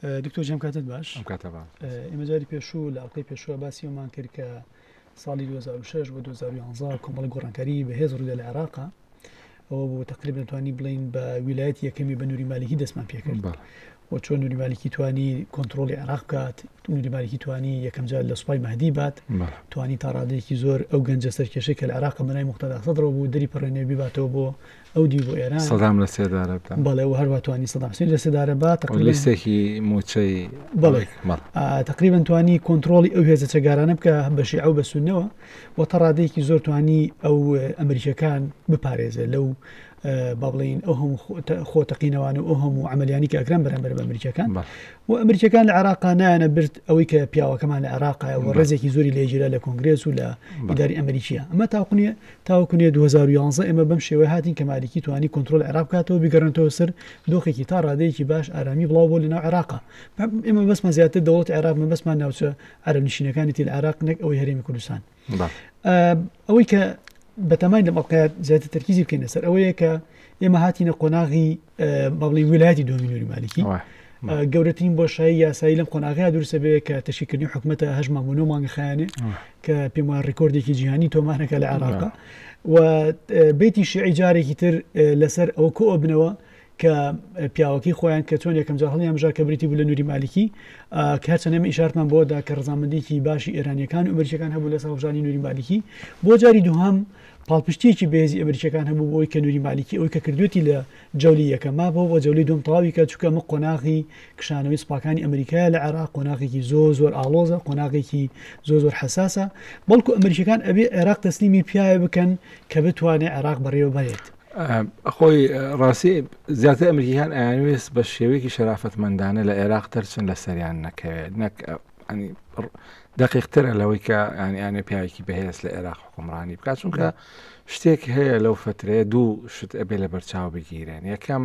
دکتۆر جەم کاتت باش ئێمە جاری پێشوو لە ئەڵلقەی پێشوە باسی ئەومان کرد کە ساڵی 2006 بۆ 2011 کۆمەڵی گۆڕانکاری بەهێز ڕوودە لە عێراقا ئەوە بۆ تقریب نتوانی بڵین بە ویلایەت یەکەمی بە نووری مالیکی دەستمان پێکرد و چۆن نووری مالیکی توانی کۆنتترۆلی عراق بکات نووری مالیکی توانی یەکەم جار لە سوپای مادی بات توانی تا ڕادێکی زۆر ئەو گەنجە سەرکێشی کە لە عراق بەنای مختداسەدرەوە بوو دری پەڕێنێ بیباتەوە بۆ ئەو دی بۆ ئێران سەدام لە سێدارە بەڵێ و هەروە توانی سەداسی لە سێدارە بات لیستێکی موچەی بڵێ تقریبان توانی کۆنتترۆلی ئەو هێزە چەگارانە بکە بەشی ئەو بەسونەوە بۆ تا ڕادەیەکی زۆر توانی ئەو ئەمریکیەکان بپارێزێت لەو با بڵین ئەو هەموو خۆ تەقینەوان و ئەو هەموو ئەعملیانی کە ئەکران بەرەمبەر بە ئەمریکیەکان و ئەمریکیەکان لە عراقا نایەنە برد ئەوەی کە پیاوەکەمان لە عراقا و ڕێزێکی زۆری لێژیرا لە کۆنگرێس و لە ئیداری ئەمریکیە ئەمە تاقنیە تاوەکوێ 2011 ئێمە بەم شێوە هاتین کە مالیکی توانی کۆنتترۆل عراق کاتەوە بگەڕنتەوە سەر دۆخێکی تا ڕادەیەکی باش ئارامی بڵاو بۆ لەناو عراقا ئێمە بەسمە زیاتر دەوڵەت عێراق مەبەسمان ناوچە عەرەب نشینەکانی تیل عراق نەک ئەوەی هەرێمی کوردستان ئەوەی کە بەتەمای لەم ئەڵقات زیاتر تەرکیزی بکەینە سەر ئەوەیە کە ئێمە هاتیینە قۆناغی بەڵی ویلایەتی دۆمینوری مالکی گەورەترین بۆشایی یاسایی لەم قۆناغیا درسە بێ کە تەشیکردنی حکوومەتە هەژمان بۆ نۆمانگە خیانێ کە پێم وایە ڕیکۆردێکی جیهانی تۆمانەکە لە عێراقا و بیتی شعی جارێکی تر لەسەر ئەو کۆ بنەوە کە پیاوەکەی خۆیان کە چۆن یەکەم جار هەڵیان بژار کە بریتی بوو لە نووری مالیکی کە هەرچەند ئێمە ئیشارتمان بۆدا کە ڕزامەندێکی باشی ئێرانیەکان و ئەمریکەکان هەبوو لەسەر هەڵبژانی نووری مالیکی بۆ جاری دووهام پاڵپشتیەکی بێزی ئەمریکەکان هەبوو بۆی کە نووری مالیکی ئەوی کە کردوێتی لە جەولی یەکەما بۆ بۆ جەولی دوم تەواوی کە چکە مە قۆناغی کشانەوەی سپاکانی ئەمریکای لە عێراق قۆناغێکی زۆ زۆر ئاڵۆزە قۆناغێکی زۆ زۆر حساسە بەڵکو ئەمریکەکان ئەبێ عێراق تەسلیمی پیاە بکەن کە بتوانێت عێراق بەڕێوە بەرێت خۆی ڕاستی زیاتر ئەمریکییەکان ئەیانوێست بە شێوەیەکی شەرافەتمەندانە لە عێراق تەرچن لە سەریان نەکەوێت نەک دقیقترە لەوەی کە ئەنیانێ پیاوێکی بەهێز لە عێراق حکومڕانی بکات چونکە شتێک هەیە لەو فترەیە دوو شت ئەبێ لە بەرچاو بگیرێن یەکەم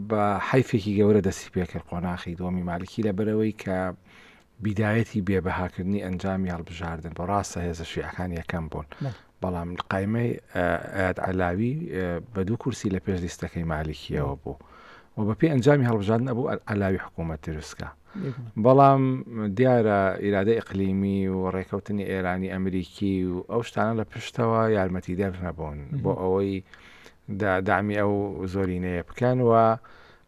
بە حیفێکی گەورە دەستی پێکرد قۆناخی دۆمی مالکی لە بەرەوەی کە بیدایەتی بێ بەهاکردنی ئەنجامی هەڵبژاردن بوو، ڕاستە هێزە شیعەکان یەکەم بوون، بەڵام قایمەی ئەیاد عەلاوی بە دوو کورسی لە پێش لیستەکەی مالیکییەوە بوو و بەپێی ئەنجامی هەڵبژاردن ئەبوو عەلاوی حکوومەت دروستکە، بەڵام دیارە ئیرادەی ئیقلیمی و ڕێکەوتنی ئێرانی ئەمریکی و ئەو شتانە لە پشتەوە یارمەتیدەر نەبوون بۆ ئەوەی دامی ئەو زۆرینەیە بکەن و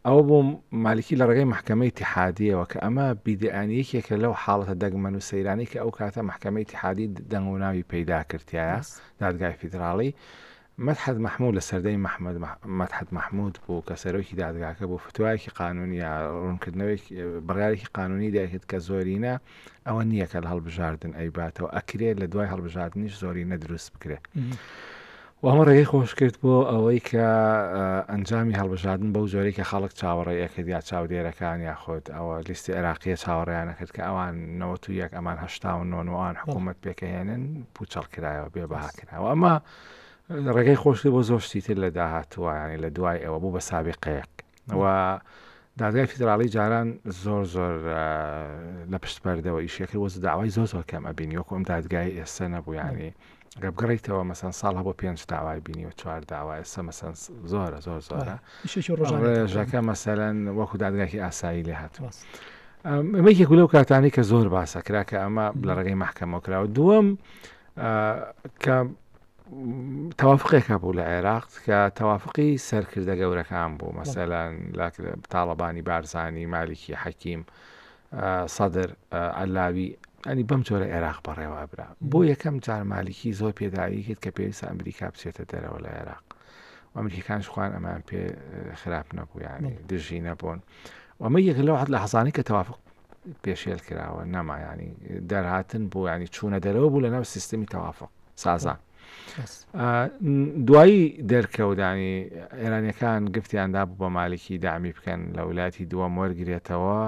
ئەوە بوو مالکی لە ڕێگەی مەحکەمەی ئیتیحادییەوە کە ئەمە بیدعەن یەکێکە لەو حاڵەتە دەگمەن و سەیرانەی کە ئەو کاتە مەحکەمەی ئیتیحادی دەنگ و ناوی پەیدا کردایە بەس. دادگای فیدراڵی مەدحەت مەحموود لە سەردەی محمد مەدحەت مەحموود بوو کە سەرۆکی دادگاکە بوو فتوایەکی قانونی یا ڕوونکردنەوەیەک بڕیارێکی قانونی دەرکرد کە زۆرینە ئەوە نییە کە لە هەڵبژاردن ئەیباتەوە ئەکرێت لە دوای هەڵبژاردنیش زۆرینە دروست بکرێت. و ئەمە ڕێگەی خۆش کرد بۆ ئەوەی کە ئەنجامی هەڵبژاردن بەو جۆرەی کە خەڵک چاوەڕێی ئەکرد یا چاودێرەکان یا خۆت ئەوە لیستی عێراقیە چاوەڕێیان نەکرد کە ئەوان نەوەت و یەک ئەمان هەشتا و نۆنوان حکوومەت پێکەهێنن پوچەڵ کرایەوە بێ بەهاکراوە ئەمە ڕێگەی خۆشی بۆ زۆر شتی تر لە داهاتووانی لە دوای ئەوە بوو بە سابقەیەک و دادگای فیدراڵی جاران زۆر زۆر لە پشت پەردەوە ئیشەکە وەز داوای زۆر زۆر کەم ئەبین وەکو ئەم دادگای ئێستا نەبوویانی گە بگەڕیتەوە مەسەن ساڵ هەبوو پێنج داوای بینی و چوار داوا ئێستا مەسەن زۆرە زۆر زۆرە ڕژەکە مەسەرەن وەکو دادگاکی ئاسایی لێ هاتووە ئەمە یەک لەو کاتانی کە زۆر باسە کرا کە ئەمە لە ڕێگەی محکەمەوە کراوە دووەم کە تەوافقێک هەبوو لە عێراق کە تەوافقی سەرکردە گەورەکان بوو مەسەلەن لە تاڵەبانی بارزانانی مالیکی حەکیم سەدر ئەلاوی ئەنی بەم جۆرە عێراق بەڕێوە برا بۆ یەکەم جار مالیکی زۆر پێداوی کرد کە پێویستە ئەمریکا بچێتە دەرەوە لە عێراق ئەمریکان شخوان ئەمان پێ خراپ نەبوو یانی دژی نەبوون ئەمە یەک لەوحت لە حەزانانی کە تەوافق پێشێل کراوە نەمایانی دەرهاتن بۆ ینی چوونە دەرەوە بوو لە ناو سیستمی تەوافق سازان دوایی دەرکەوتدانی ئێرانیەکان گفتیاندا بوو بە مالکی دامی بکەن لە ولاتی دووەم وەرگێتەوە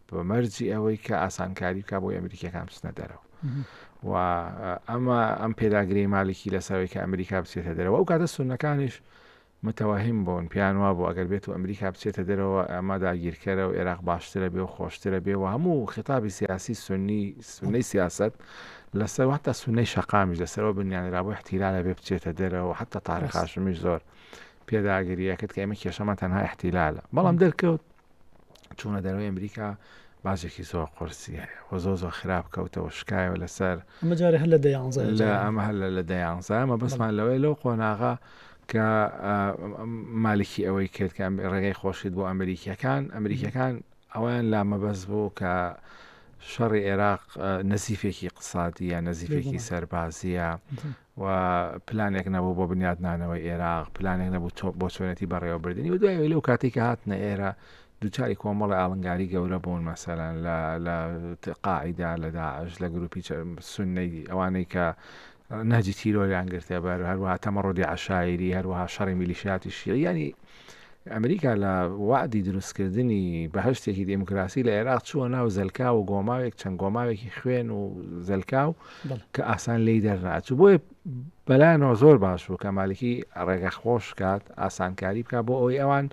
بەمەرجی ئەوەی کە ئاسانکاری بکە بۆ ئەمریکیەکان بچنە دەرەوە و ئەمە ئەم پێداگری مالکی لەسەرەوەی کە ئەمریکا بچێتە دەرەوە ئەو کاتە سونەکانیش متوەهم بوون پێیان وابوو ئەگەر بێت و ئەمریکا بچێتە دەرەوە ئەمە داگیرکەرە و ئێراق باشترە بێ و خۆشترە بێ و هەموو خیتابی سیاسی سونی سونەی سیاسەت لەسەر و حتا سونەی شەقامیش لەسەرەوە بنیانرابوو احتیلالە بێ بچێتە دەرەوە حتا تاریخ هاشمیش زۆر پێداگریەکرد کە ئێمە کێشەمان تەنها احتیلالە بەڵام دەرکەوت چوونە دەروی ئەمریکا باجێکی زۆر قرسی هەیە و زۆ زۆ خراپ کەوتەوە شکایەوە لەسەر مەجارە هەر لە دەیانزە ئەمە هەر لە دەیانزە مە بەسمان لەوەی لەو قۆناغا کە مالکی ئەوەی کرد کە ڕێگەی خۆشیت بۆ ئەمریکیەکان ئەمریکیەکان ئەویان لا مەبەز بوو کە شەڕی عێراق نەزیفێکی قسادیە نەزیفێکی سەربازیە و پلانێک نەبوو بۆ بنیاتنانەوەی ئێراق، پلانێک نەبوو تۆ بۆ چۆنێتی بەڕێوەبردنی و دوای لەو کاتێک کە هاتنە ئێرە دووچاری کۆمەڵی ئاڵنگاری گەورە بوون مەسەلەن لە لە قاعدا لە داعش لە گروپی سنەی ئەوانەی کە ناجی تیرۆریان گرتێ بەر هەروە تەمەڕۆدی عشاعری هەروەها شەڕی میلیشیاتی شیعیانی ئەمریکا لە وەعدی دروستکردنی بەهەشتێکی دێموکراسی لە عێراق چووە ناو زەلکاو و گۆماوێک چەند گۆماوێکی خوێن و زەلکاو بەڵێ. کە ئاسان لێی دەرناچوو بۆیە بەلایەنەوە زۆر باش بوو کە مالکی ڕێگە خۆش کات ئاسانکاری بکە بۆ ئەوەی ئەوان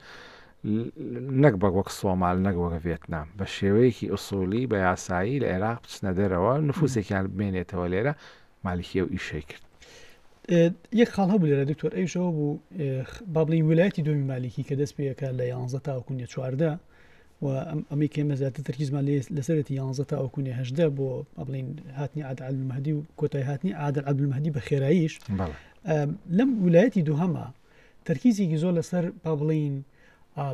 نەک بەک وەک سۆمال نەک وەک ڤێتنام بە شێوەیەکی ئوسولی بە یاسایی لە عێراق بچنە دەرەوە نفوسێکیان بمێنێتەوە لێرە مالکی ئەو ئیشەی کرد. یەک خاڵ هەبوو لێرە دکتۆر ئەویش ئەوە بوو با بڵین ویلایەتی دومی مالیکی کە دەست پێەکە لە یانزە تاوکوونیە چواردە و ئەمەی کێمە زیاتر تەرکیزمان لێ لەسەرێتی یانزە تاوکوونی هەشدە بۆ ئەبڵین هاتنی عادالمەدی و کۆتای هاتنی عادل عبلمەدی بە خێراییش لەم ویلایەتی دوهەمە تەرکیزێکی زۆر لەسەر با بڵێین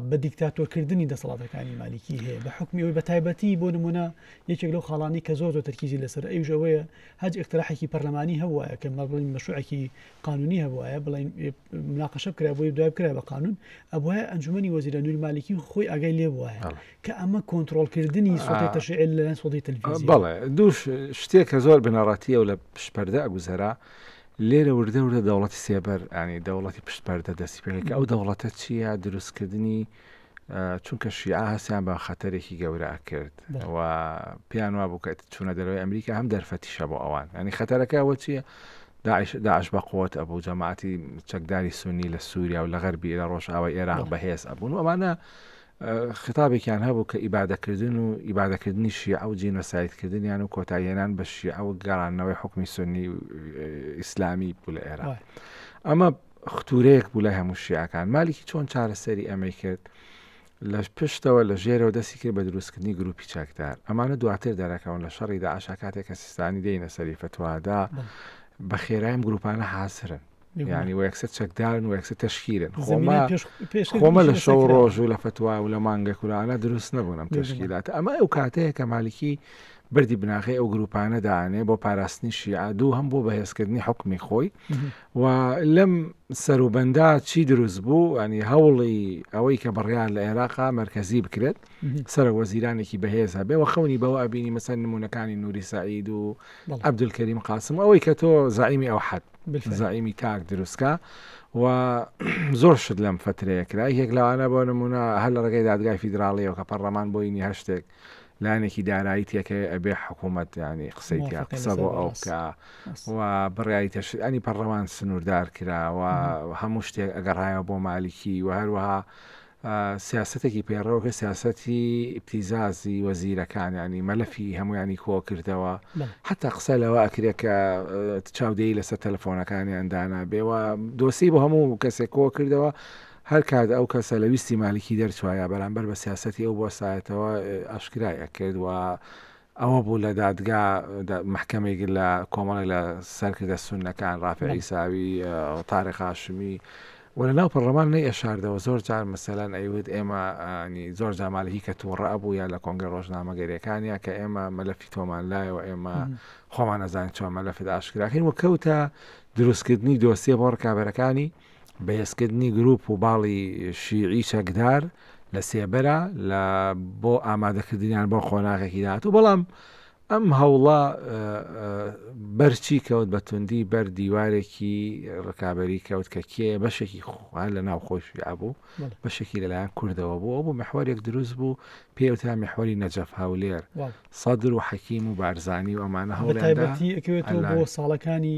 بە دیکتاتۆرکردنی دەسەڵاتەکانی مالیکی هەیە بە حکمی ئەوی بە تایبەتی بۆ نمونە یەکێک لەو خاڵانی کە زۆر زۆر تەرکیزی لەسەر ئەوش ئەوەیە هەج اقتراحێکی پەرلەمانی هەبووە کە مە بڵین مەشوعێکی قانونی هەبووە بڵین مناقەشە کرا بۆی دوای کرا بە قانون ئەبە ئەنجومی وەزیرە نوور مالیکی خۆی ئاگای لێ بووە کە ئەمە کۆنتترۆلکردنی سوی تەشعل لە سۆدی تەلفیزی بەڵێ دوو شتێک کە زۆر بنەڕاتیە و لە پشپەردە ئەگوزەرا لێرە وردە وردە دەوڵەتی سێبەر یانی دەوڵەتی پشت پەردە دەستی پێکرد کە ئەو دەوڵەتە چییە دروستکردنی چونکە شیعە هەستیان بە خەتەرێکی گەورە ئەکرد و پێیان وا بوو کە چوونە دەرەوەی ئەمریکا هەم دەرفەتیشە بۆ ئەوان ئەنی خەتەرەکە ئەوە چییە داعش داعش بە قوت ئەبوو جەماعتی چەکداری سونی لە سووریا و لە غەربی لە ڕۆژئاوای ئێراق بەهێز ئەبوون و ئەمانە خیتابێکیان هەبوو کە ئیبادەکردن و ئیبادەکردنی شیعە و جینۆسایدکردنیان و کۆتایهێنان بە شیعە و گەڕانەوەی حکومی سنی ئیسلامی بوو لە ئێرا ئەمە ختورەیەک بوو لای هەموو شیعەکان مالیکی چۆن چارەسەری ئەمەی کرد لە پشتەوە لە ژێرەوە دەستی کرد بە دروستکردنی گروپی چەکدار ئەمانە دواتر دەرەکەون لە شەڕی داعشا کاتێک کە سیستانی دێنە سەری فتووادا بە خێرایم گروپانە حاصرن یعنی و یەکسەر چەکدارن و یەکسەر تشکیلن خۆمە خۆمە لە شەو ڕۆژ و لە فتوای و لە مانگە کورانە دروست نەبوونم تشکیلات ئەمە ئەو کاتەیە کە مالکی بردی بناغی ئەو گروپانە دانێ بۆ پاراستنی شیعە دوو هەم بۆ بەهێزکردنی حکمی خۆی و لەم سەروبەندا چی دروست بوو ئەنی هەوڵی ئەوەی کە بڕیان لە عێراقا مرکزی بکرێت سەر وەزیرانێکی بەهێز هەبێ و خەونی بەوە ئەبینی مەسەر نمونونەکانی نووری سعید و عبدولکەریم قاسم ئەوەی کە تۆ زعیمی ئەو حەد زەعیمی تاک دروستکە و زۆر شت لەم فەترەیە کرا یەک لەوانە بۆ نمونە هەر لە ڕێگەی دادگای فیدراڵیەوە کە پەرلەمان بۆینی هەشتێک لایەنێکی دارایی تێکەوە ئەبێ حکوومەت ینی قسەی تیا قسە بۆ ئەو بکە و بڕیایی تەشتانی پەرلەمان سنووردار کراوە هەموو شتێک ئەگەڕایەوە بۆ مالیکی و هەروەها سیاسەتێکی پەیڕەو کە سیاسەتی ئیبتیزازی وەزیرەکان یانی مەلەفی هەمویانی کۆکردەوە حتا قسە لەوە ئەکرێت کە چاودێری لەسەر تەلەفۆنەکانیان دانابێ و دۆسی بۆ هەموو کەسێک کۆکردەوە هەر کات ئەو کەسە لە ویستی مالکی دەرچوایە بەرامبەر بە سیاسەتی ئەو بۆ سایەتەوە ئاشکرای ئەکرد و ئەوە بوو لە دادگا مەحکەمێک لە کۆمەڵێک لە سەرکردە سوننەکان ڕافع عیساوی، تاریق هاشمی و لە ناو پەڕڵەمان نەیئەشاردەوە زۆر جار مەسەلەن ئەیوت ئێمە ی زۆر جا مالکی کە تووڕە ئەبوو یا لە کۆنگرە ڕۆژنامەگەریەکان یا کە ئێمە مەلەفی تۆمان لایەوە ئێمە خۆمان نەزانین چۆن مەلەفت ئاشکراکەین و کەوتە دروستکردنی دۆسیە بۆ ڕکابەرەکانی بەهێزکردنی گروپ و باڵی شیعی چەکدار لە سێبەرە لە بۆ ئامادەکردنیان بۆ قۆناغێکی داهاتوو، بەڵام ئەم هەوڵە بەرچی کەوت بە توندی بەر دیوارێکی ڕکابەری کەوت کە کێ بەشێکی خوار لە ناو خۆش بوو بەشێکی لەلایەن کوردەوە بوو ئەو بوو محوارێک دروست بوو پێوتە محوەری نەجەف هاولێر سەدر و حەکیم و بارزانانی و ئەمانە هەوڵەتیبەتی بۆ ساڵەکانی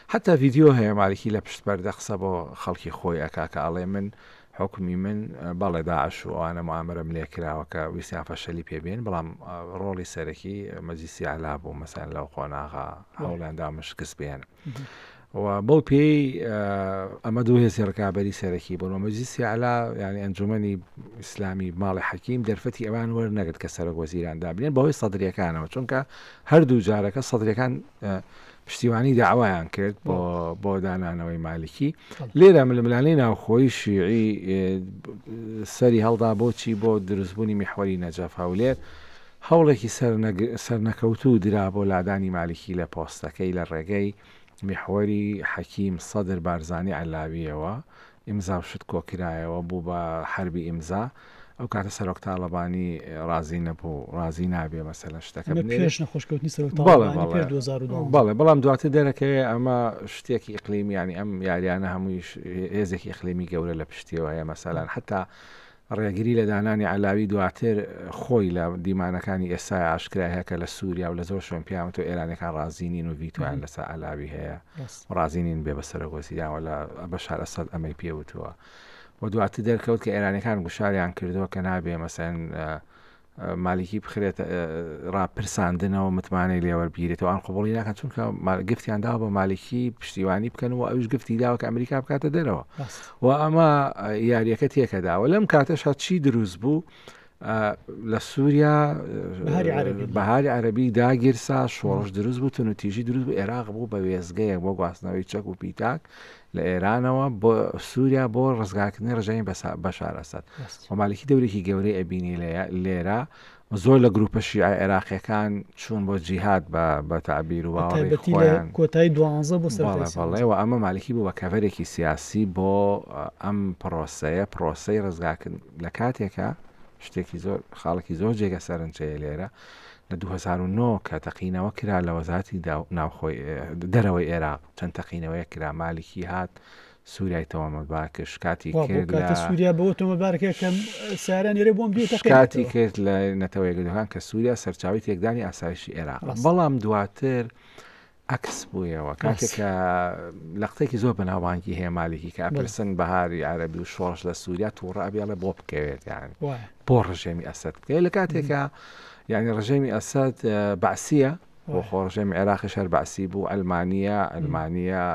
حەتا ڤیدیۆ هەیە مالکی لە پشت پەردە قسە بۆ خەڵکی خۆی ئەکا کە ئەڵێ من حوکمی من بەڵێ داعش و ئەوانە موئامەرەم لێ کراوە کە ویستیان فەشەلی پێ بێن بەڵام ڕۆڵی سەرەکی مەجلیسی ئەعلا بوو مەسەلەن لەو قۆناغە هەوڵیان داومە شکست بێنن و بەو پێی ئەمە دوو هێزی ڕکابەری سەرەکی بوون و مەجلیسی ئەعلا یعنی ئەنجومەنی ئیسلامی ماڵی حەکیم دەرفەتی ئەوان وەرنەگرت کە سەرۆک وەزیران دابنێن بەهۆی سەدریەکانەوە چونکە هەردوو جارەکە سەدرەکان پشتیوانی داوایان کرد بۆ بۆ دانانەوەی مالکی لێرە ململانەی ناوخۆی شیعی سەری هەڵدا بۆچی بۆ دروستبوونی میحوەری نەجەف هەولێر هەوڵێکی سەرنەکەوتوو درا بۆ لادانی مالکی لە پۆستەکەی لە ڕێگەی میحوەری حەکیم سەدر بارزانانی علاویەوە ئیمزا و شت کۆکرایەوە بوو بە حەربی ئیمزا ئەو کاتە سەرۆک تاڵەبانی ڕازی نەبوو ڕازی نابێ مەسەلەن شتەکە نە بنێرێ پێش نەخۆش کەوتنی سەرۆک بەڵێ تاڵەبانی پێش بەڵێ 2012 بەڵێ بەڵام دواتر دەرەکەوێ ئەمە شتێکی ئیقلیمیانی ئەم یاریانە هەموویش هێزێکی ئیقلیمی گەورە لە پشتیەوە هەیە مەسەلەن حتا ڕێگری لە دانانی عەلاوی دواتر خۆی لە دیمانەکانی ئێستای ئاشکرای هەیە کە لە سووریا و لە زۆر شوێن پێیانوتوە ئێرانیەکان ڕازی نین و ڤیتۆیان لەسەر عەلاوی هەیە و ڕازی نین بێ بە سەرۆک وەزیران و لە بەشار ئەسەد ئەمەی پێوتووە و دواتر دەرکەوت کە ئێرانیەکان گوشاریان کردووە کە نابێ مەسەن مالکی بخرێت ڕاپرساندنەوە متمانەی لێوەربگیرێتەوە ئەم قوبڵی ناکەن چونکە گفتیان داوە بە مالکی پشتیوانی بکەن و ئەوش گفتی داوە کە ئەمریکا بکاتە دەرەوە و ئەمە یاریەکە تێکەداوە لەم کاتەشا چی دروست بوو لە سووریا بەهاری عەربی داگیرسا شۆڕش دروست بوو تون و تیژی دروست بوو عێراق بوو بە وێزگەیە بۆ گواستنەوەی چەک و پیتاک لە ئێرانەوە بۆ سوریا بۆ ڕزگارکردنی ڕژێمی بەشار ئەسەد و مالکی دەورێکی گەورەی ئەبینی لێرە زۆر لە گروپە شیعە عێراقیەکان چوون بۆ جیهات بە تابیر و باڵێن کۆتای دوانزە بۆ سەڵێ و ئەمە مالکی بوو بە کەڤەرێکی سیاسی بۆ ئەم پرۆسەیە پرۆسی ڕزگاکن لە کاتێکە شتێکی زۆر خاڵکی زۆر جێگە سەرنجەیە لێرە لە 2009 کە تەقینەوە کرا لە وەزاتی ناوخۆی دەرەوەی عێراق چەند تەقینەوەیەک کرا مالکی هات سوریای تەوامە باکش کاتی کرد لە سووریا بۆ تۆمە بارکە کەم سارە نێرە بۆم بێت کاتی کرد لە نەتەوەی گەدەکان کە سووریا سەرچاوی تێکدانی ئاسایشی عێراق بەڵام دواتر عکس بوویەوە کاتێکە لە قسێکی زۆر بەناوانگی هەیە مالکی کە ئەپرسن بەهاری عربی و شۆڕش لە سووریا تووڕە ئەبیڵێ بۆ بکەوێت یان بۆ ڕژێمی ئەسد بکەێت لە کاتێکە یعنی ڕژێمی ئەسد بەعسیە بۆ خۆ ڕژێمی عێراقیش هەر بەعسی بوو ئەلمانیا ئەلمانیا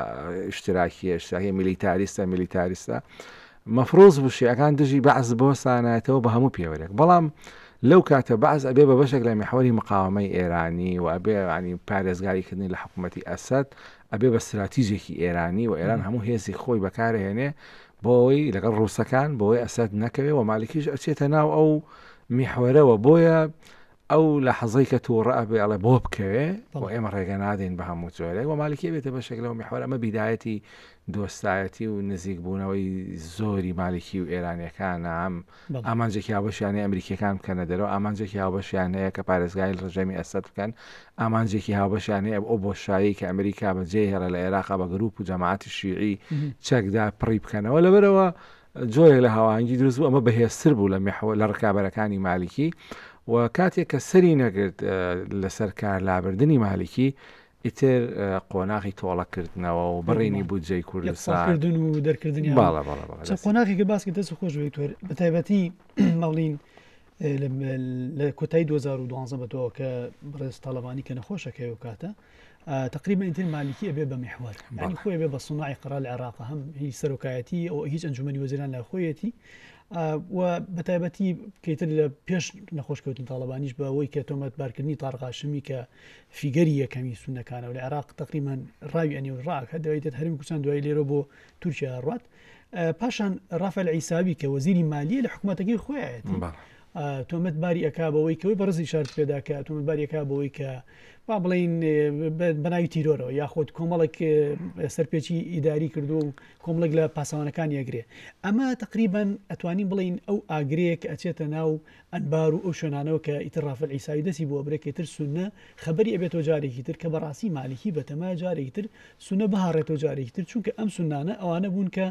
ئشتراکیە ئشتراکی میلیتاریستە میلیتاریستە مەفرۆز بوشیەکان دژی بەعز بۆ سانایەتەوە بە هەموو پێوەرێک بەڵام لەو کاتە بەعز ئەبێ بە بەشێک لە میحوەری مقاومەی ئێرانی و ئەبێ ینی پارێزگاریکردنی لە حکوومەتتی ئەسد ئەبێ بە استراتیژێکی ئێرانی و ئێران هەموو هێزی خۆی بەکارهێنێ بۆەوەی لەگەڵ ڕووسەکان بۆی ئەسد نەکەوێ و مالکیش ئەچێتە ناو ئەو میحوەرەوە بۆیە ئەو لەحەزەی کە توڕە ئەبێ ئەڵێ بۆ بکەوێ و ئێمە ڕێگە نادەین بە هەموو جۆرێک و مالکی ئەبێتە بەشێک لەو میحوەرە ئەمە بیدایەتی دۆستایەتی و نزیک بوونەوەی زۆری مالکی و ئێرانیەکان ئەم بەڵێ. ئامانجێکی هاوبەشیانەیە ئەمریکیەکان بکەنە دەرەوە ئامانجێکی هاوبەشیان هەیە کە پارێزگای ڕژێمی ئەسەد بکەن ئامانجێکی هاوبەشیان هەیە ئەو بۆشایی کە ئەمریکا بەجێ هێڵە لە عێراقا بە گروپ و جەماعەتی شیعی چەکدا پڕی بکەنەوە لەبەرەوە جۆرێک لە هاوهانگی دروست بوو ئەمە بەهێزتر بوو لە میحو لە ڕکابەرەکانی مالیکی و کاتێک کە سەری نەگرت لەسەر کار لابردنی مالیکی ئیتر قۆناغی تۆڵە کردنەوە و بڕینی بودجەی کوردستاکردن و دەرکردنی باڵە قۆناغی کە باسی دەست خۆش وێکتۆر بە تایبەتی ماڵین لە کۆتایی 2012 بەەوە کە بڕێز تاالبانی کە نەخۆشەکەی و کاتە تقریبەن ئیتر مالکی ئەبێ بە محوەر یانی خۆی بێ بە سناعی قەرار لە عێراق هەم هی سەرۆکایەتی ئەو هیچ ئەنجومی وەزیران لە خۆیەتی و بەتایبەتی پێتر لە پێش نەخۆشکەوتن تاالبانیش بە ئەوەی کە تۆمەت بارکردنی تاڕغاشمی کە فیگەری یەکەمی سونەکانەوە لە عێراق تقریمان ڕاوی ئەنی و ڕاکە دوایدێت هەرمی کوردستان دوای لێرە بۆ تورکیا ڕات پاشان ڕافەل عیساوی کە وەزیری مالیە لە حکوومەتەکەی خۆیەت تۆمەت باری ئەک بەوەی کەەوەی بەڕزی شارت پێدا کە تۆمەت باریەکە بەوەی کە با بڵین بەناوی تیرۆرەوە یاخود کۆمەڵک سەرپێکی ئیداری کردو و کۆمەڵک لە پاسەوانەکان یەگرێ ئەمە تقریبان ئەتوانین بڵین ئەو ئاگرەیە کە ئەچێتە ناو ئەنبار و ئەو شوێنانەوە کە ئیتر ڕافل عیساوی دەستی بۆ ئەبرێ کە ئیتر سوننە خەبەری ئەبێتەوە جارێکی تر کە بەڕاستی مالیکی بەتەمایە جارێکی تر سوننە بهاڕێتەوە جارێکی تر چونکە ئەم سوننانە ئەوانە بوون کە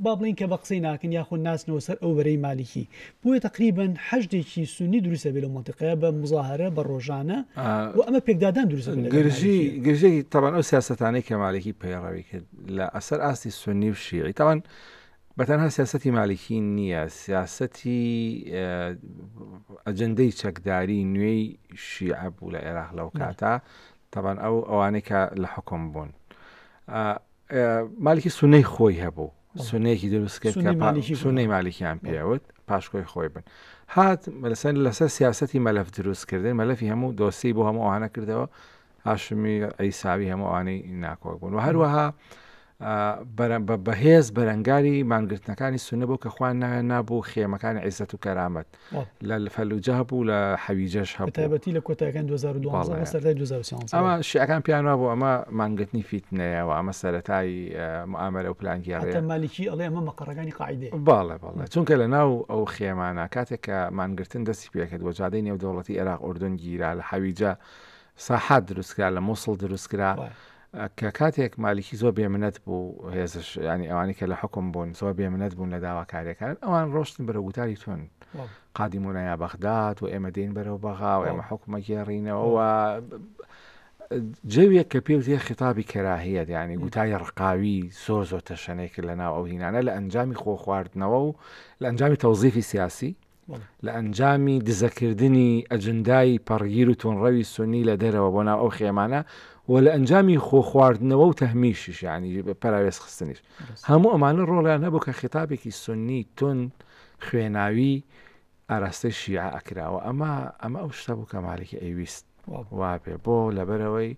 با بڵێین کە بە قسەی ناکەن یاخۆ ناچنەوە سەر ئەو بەرەی مالیکی بۆیە تەقریبەن حەشدێکی سوننی دروست ئەبێ لەو مەنتقەیە بە موزاهەرە بە ڕۆژانە و ئەمە پێکدادان دروست ئەبێ لەگەڵ گرژی مالیکی. گرژی تەبان ئەو سیاسەتانەی کە مالکی پەیڕەوی کرد لە ئەسەر ئاستی سوننی و شیعی تەبان بە تەنها سیاسەتی مالیکی نییە، سیاسەتی ئەجندەی چەکداری نوێی شیعە بوو لە عێراق لەو کاتە، تەبەن ئەو ئەوانەی کە لە حکم بوون. مالکی سنەی خۆی هەبوو سنەیەکی دروست کرد سنەی مالکیان پێوت پاشکۆی خۆی بن هات لەسەر لەسەر سیاستی مەلف دروستکردن مەلفی هەموو دۆسی بۆ هەمووانە کردەوە هاشمی عیساوی هەموو ئەوانەی ناکۆک بوون و هەروەها بەهێز بەرەنگاری مانگرتنەکانی سونە بۆ کە خوان نایان نابوو خێمەکانی عیزەت و کەرامەت لە فەلوجە هەبوو لە حەویجەش هەبەتی لە کۆتاکان 2012 ئەمە شیعەکان پیانوا بۆ ئەمە مانگرتنی فیتنەیەەوە ئەمە سەتایی ئامەرە و پلانگیێ مالیکی ئەڵێ ئەمە مەقڕەکانی قاعدێ باڵێ باڵێ چونکە لە ناو ئەو خێمانە کاتێک کە مانگرتن دەستی پێکرد وە جادەی نێودەوڵەتی عێراق ئۆردن گیرا لە حەویجە ساحات دروست کرا لە موسڵ دروست کرا کە کاتێک مالیکی زۆر بێمنەت بوو هێزش ینی ئەوانی کە لە حکم بوون زۆر بێمنەت بوون لە داواکاریەکان ئەوان ڕۆشتن بەرە گوتاری تون قادیمونە یا بەغداد و ئێمە دین بەرەو بەغا و ئێمە حکومە گێڕینەوە جەوێک کە پێ وتێ خیتابی کەراهەت ینی گوتای ڕقاوی زۆر زۆر تەشەنێک لە ناو ئەو هینانە لە ئەنجامی خۆ خواردنەوە و لە ئەنجامی تەوزیفی سیاسی لە ئەنجامی دزەکردنی ئەجندای پەڕگیر و توندڕەوی سوننی لە دەرەوە بۆ ناو ئەو خێمانە و لە ئەنجامی خۆ خواردنەوە و تەهمیشیش یانی پەراوێز خستنیش هەموو ئەمانە ڕۆڵیان هەبوو کە خیتابێکی سوننی توند خوێناوی ئاراستەی شیعە ئەکراوە ئەمە ئەمە ئەو شتە بوو کە مالکی ئەیویست وابێ بۆ لەبەرئەوەی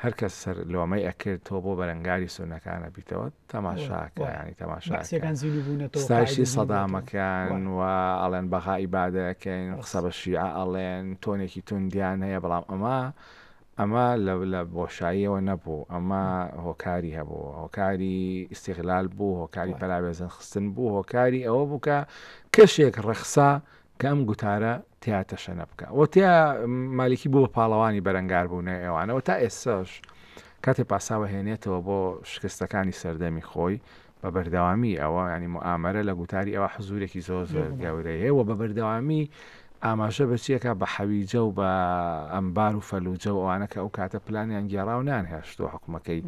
هەرکەس سەر لۆمەی ئەکرد تۆ بۆ بەرەنگاری سونەکان ئەبیتەوە تەماشاکە ینی تەماشاکە ستایشی سەدامەکەن و ئەڵێن بەغا ئیبادەکەین قسە بە شیعە ئەڵێن تۆنێکی توندیان هەیە بەڵام ئەمە ئەمە لە بۆشاییەوە نەبوو ئەمە هۆکاری هەبوو هۆکاری ئیسیغلال بوو هۆکاری پەراوێزن خستن بوو هۆکاری ئەوە بووکە کەشێک ڕەخسا کە ئەم گوتارە تیا تەشەنە بکا و تیا مالیکی بوو بە پاڵەوانی بەرەنگاربوونەوەی ئەوانە و تا ئێستاش کاتێ پاساوە هێنێتەوە بۆ شکستەکانی سەردەمی خۆی بە بەردەوامی ئەوە ینی موئامەرە لە گوتاری ئەوە حزورێکی زۆر زۆر گەورەیە و بە بەردەوامی ئاماژە بەچیەکە بە حەویجە و بە ئەمبار و فەلوجە و ئەوانە کە ئەو کاتە پلانیان گێڕاو نان هێشتوە حکومەکەی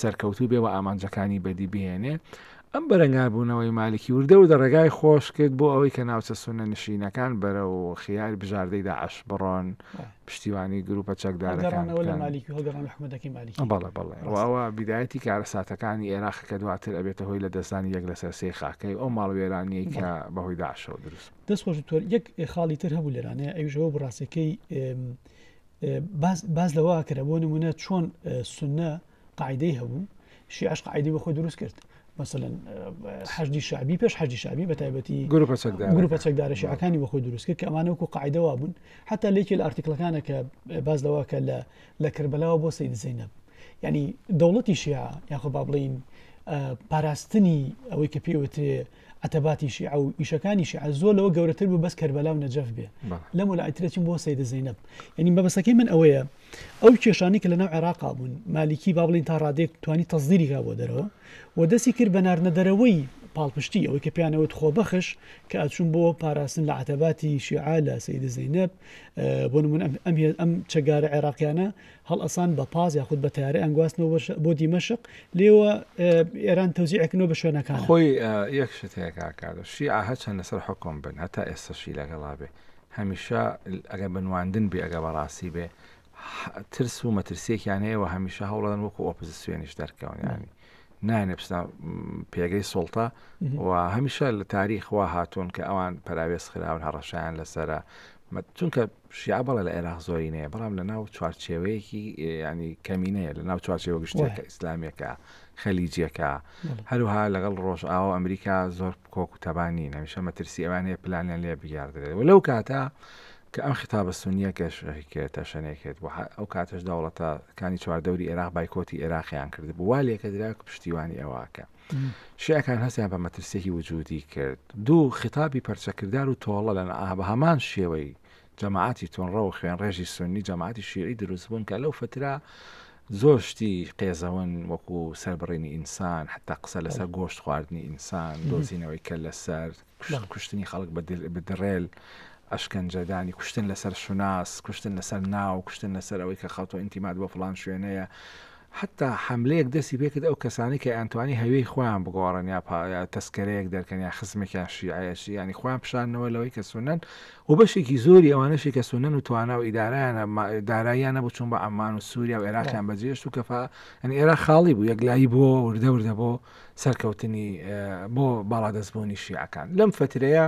سەرکەوتوو بێ و ئامانجەکانی بەدی بهێنێ ئەم بەرەنگاربوونەوەی مالکی وردە وردە ڕێگای خۆش کرد بۆ ئەوەی کە ناوچە سوننە نشینەکان بەرەو خیاری بژاردەی داعش بڕۆن پشتیوانی گروپە چەکدارەکان هەڵگەڕانەوە لە مالیکی و هەڵگەڕان لە حکومەتەکەی مالیکی آه، بەڵێ بەڵێ و ڕاستە. ئەوە بیدایەتی کارەساتەکانی ئێراق کە دواتر ئەبێتە هۆی لە دەستدانی یەک لەسەر سێی خاکەی ئەو ماڵوێرانیەی کە بەهۆی داعشەوە دروست بوو. دەست خۆش دکتۆر یەک خاڵی تر هەبوو لێرانەیە ئەویشەوە بڕاستەکەی باز لەوە کرا بۆ نمونە چۆن اه، سنە قاعیدەی هەبوو شیعش قاعیدەی بە خۆی دروست کرد مثلەن حەجدی شعبی پێش حەجی شعبی بە تایبەتی گروپە چەکدار گروپە چەکدارە شیعەکانی بە خۆی دروست کرد کە ئەمانە وکو قاعدەوا بوون حتا لێکی لە ئارتیکلەکانە کە باز لەوە کە لە لە کربلاوە بۆ سید زینب ینی دەوڵەتی شیع یاخۆ با بڵین پاراستنی ئەوەی کە پێوترێ عەتەباتی شیعە و ئیشەکانی شیعە زۆر لەوە گەورەتر بوو بەس کەربەلا و نەجەف بێ لەم وەلایترەچین بۆ سەیدە زەینەب یعنی مەبەسەکەی من ئەوەیە ئەو کێشانی کە لەناو عێراقا بوون مالیکی با بڵین تا ڕادێک توانی تەزدیریکا بۆ دەرەوە و دەستی کرد بە ناردنە دەرەوەی پاڵپشتی ئەوەی کە پیانەوەت خۆ بەخش کە ئەچون بۆ پاراستن لە عتەباتی شیعا لە سیدە زینب بۆ من ئەم ئەم چەگارە عێراقیانە هەڵئەسان بە پاس یاخود بە تەیارە یانگواستنەوە بۆ دیمەشق لێوە ئێران تەوزیعکردنەوە بە شوێنەکان خۆی یەک شت هەیە کاکادە شیعە هەچەند لەسەر حکم بن هەتا ئێستەشی لەگەڵا بێ هەمیشە ئەگەر بە نواندن بێ ئەگە بەڕاستی بێ ترس و مەترسیەکیان هەیە و هەمیشە هەوڵەن وەکو ئۆپزیسیۆنیش دەرکەون ینی نانێ بستە پێگەی سڵتە و هەمیشە لە تاریخوا هاتوون کە ئەوان پراوێز خراون هەڕەشیان لەسرە مەد چونکە شیعە بەڵێ لە عێراق زۆرینەیە بەڵام لە ناو چوارچێوەیەکی ینی کەمینەیە لە ناو چوارچێوە گشتێکە ئیسلامیەکە خەلیجیەکە هەروها لەگەڵ ڕۆژ ئاو ئەمریکا زۆر کۆک و تەبانی نەمیشە مەترسی ئەوان هەیە پلانیان لێ بگیاردرێت و لەو کاتە کە ئەم خطابە سنیەکەش هیکێتە شەنێکێت بۆ ئەو کاتەش دەوڵەتەکانی چواردەوری عێراق بایکۆتی عێراقیان کرد بوو وا لێکە درا پشتیوانی ئەوواکە. شیعەکان هەستیان بە مەترسیەکی وجودی کرد دوو خیتابی پەرچەکردار و تۆڵە لە بە هەمان شێوەی جەماعەتی تونڕە و خوێن ڕێژی سنی جەماعەتی شیعی دروست بوون کە لەو فترە زۆر شتی قێزەون وەکو سەربڕینی ئینسان حتا قسە لەسەر گۆشت خواردنی ئینسان دۆزینەوەی کە لەسەر کوشتن، کوشتنی خەڵک بە دڕێل، ئەشکەنجەدانی، کوشتن لەسەر شوناس، کوشتن لەسەر ناو، کوشتن لەسەر ئەوەی کە خەڵتۆ ئینتیماد بۆ فڵان شوێنەیە، حتا حملەیەک دەستی پێکرد ئەو کەسانی کە ئەنتوانی هەوێی خۆیان بگۆڕن یا پایا تەسکەرەیەک دەرکەن یا خزمێکیان شیعەیەشی ینی خۆیان پیششانەوە لەوەی کە سونەن و بەشێکی زۆری ئەوانەشی کە سونەن و توانا و ئیدارایانە داراییانە بچون بە ئەمان و سووریا و عێراقیان بەجێشت و کەفا ئەنی ئێرا خاڵی بوو یەکلایی بووەوە وردە وردە بۆ سەرکەوتنی بۆ باڵادەستبوونی شیعەکان لەم فترەیە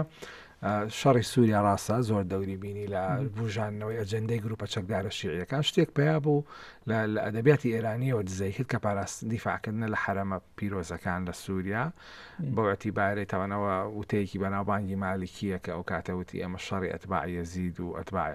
شەڕی سووریا ڕاستە زۆر دەوری بینی لە بژانەوەی ئەجندەی گروپە چەکدارە شیعەکان شتێک پیا بوو لە ئەدەبیاتی ئێرانیەوە دزەی کرد کە پاراست دیفاعکردنە لە حرەمە پیرۆزەکان لە سووریا بۆەتی بارەی تاوانەوە وتەیەکی بەناوبانگی مالیکیە کە ئەو کاتەوتی ئەمە شەڕی ئەتباعە زید و ئەتباعی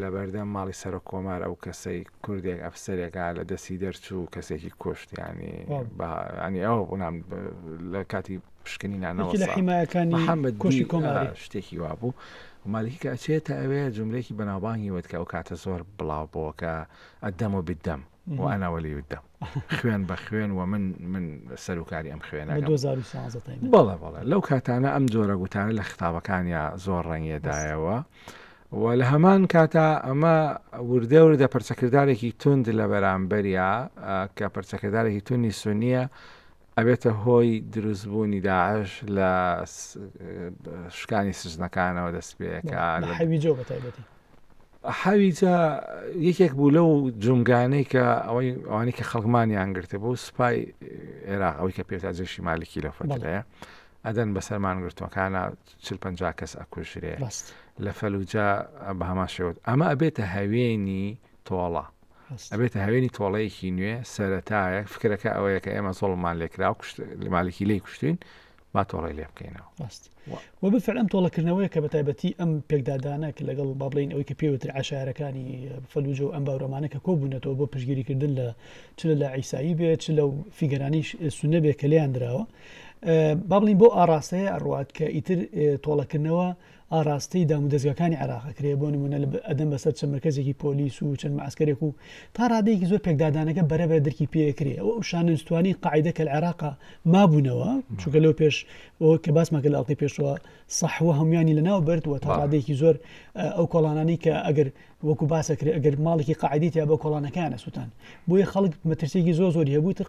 لەبەردەم ماڵی سەرۆک کۆمار ئەو کەسەی کوردێک ئەفسەرێک ها لە دەستی دەرچوو کەسێکی کوشت ینی ینی ئەو بڵام لە کاتی پشکنی نانەوە لە حیمایەکانی محەممەد کوشی کۆماری شتێکی وا بوو مالکی کە ئەچێتە ئەوێ جملێکی بەناوبانگی وت کە ئەو کاتە زۆر بڵاو بۆکە ئەدەم و بدەم و ئەناوەلی ودەم خوێن بە خوێن و من من سەرکاری ئەم خوێنە بەڵێ بەڵێ لەو کاتانە ئەم جۆرە گوتانە لە خطابەکانیا زۆر ڕەنگێدایەوە و لە هەمان کاتا ئەمە وردە وردە پرچەکردارێکی تند لە بەرامبەریا کە پرچەکردارێکی تونی سونیە ئەبێتە هۆی دروست بوونی داعش لە شکانی سزنەکانەوە دەست پێەکە حەویجە بە تایبەتی حەویجە یەکێک بوو لەو جومگانەی کە ئەوەی ئەوانی کە خەڵمانیان گرتە بۆ سوپای عێراق ئەوی کە پێتا جێشی مالکی لە فەتەیە ئەدەن بەسەرمان گرتوەکانە چل پ کەس ئەکوژرێ لە فەلوجە بە هەمان شێوت ئەمە ئەبێتە هەوێنی تۆڵە ئەبێتە هەوێنی تۆڵەیەکی نوێ سەرەتایەک فکرەکە ئەوەیە کە ئێمە زۆڵمان لێکرا و مالکی لی کوشتین با تۆڵی لێ بکەینەوە ڕاست وە بفر ئەم تۆڵەکردنەوەی کە بە تایبەتی ئەم پێکدادانە کە لەگەڵ بابلین ئەوی کە پێوتر عشارەکانی فەلوجە و ئەم باورەمانە کە کۆبوونەتەوە بۆ پشگیریکردن لە چ لە عیسایی بێ چ لە فیگەرانی سونە بێ کە لیان درراوە بابلین بۆ ئاراستەیە ئەڕات کە ئیتر تۆڵەکردنەوە ئاراستەی دامودەزگاکانی عێراق ئەکرێ، بۆ نموونە ئەدەن بەسەر چەند مەرکەزێکی پۆلیس و چەند مەعسکەرێک و تا ڕادەیەکی زۆر پێکدادانەکە بەرە بەرە درکی پێ ئەکرێ ئەو ئەو شانە نوستوانەی قاعیدە کە لە عێراقا مابوونەوە چونکە لەو پێش ئەوە کە باسمان کە لە ئەڵقەی پێشوە سەحوە هەمویانی لە ناو برد و تا ڕادەیەکی زۆر ئەو کۆڵانانی کە ئەگەر وەکو باسەکرێ ئەگەر ماڵێکی قاعدەی تیابوو کۆڵانەکەیان ئەسوتان بۆیە خەڵک مەترسیەکی زۆر زۆری هەبوو تر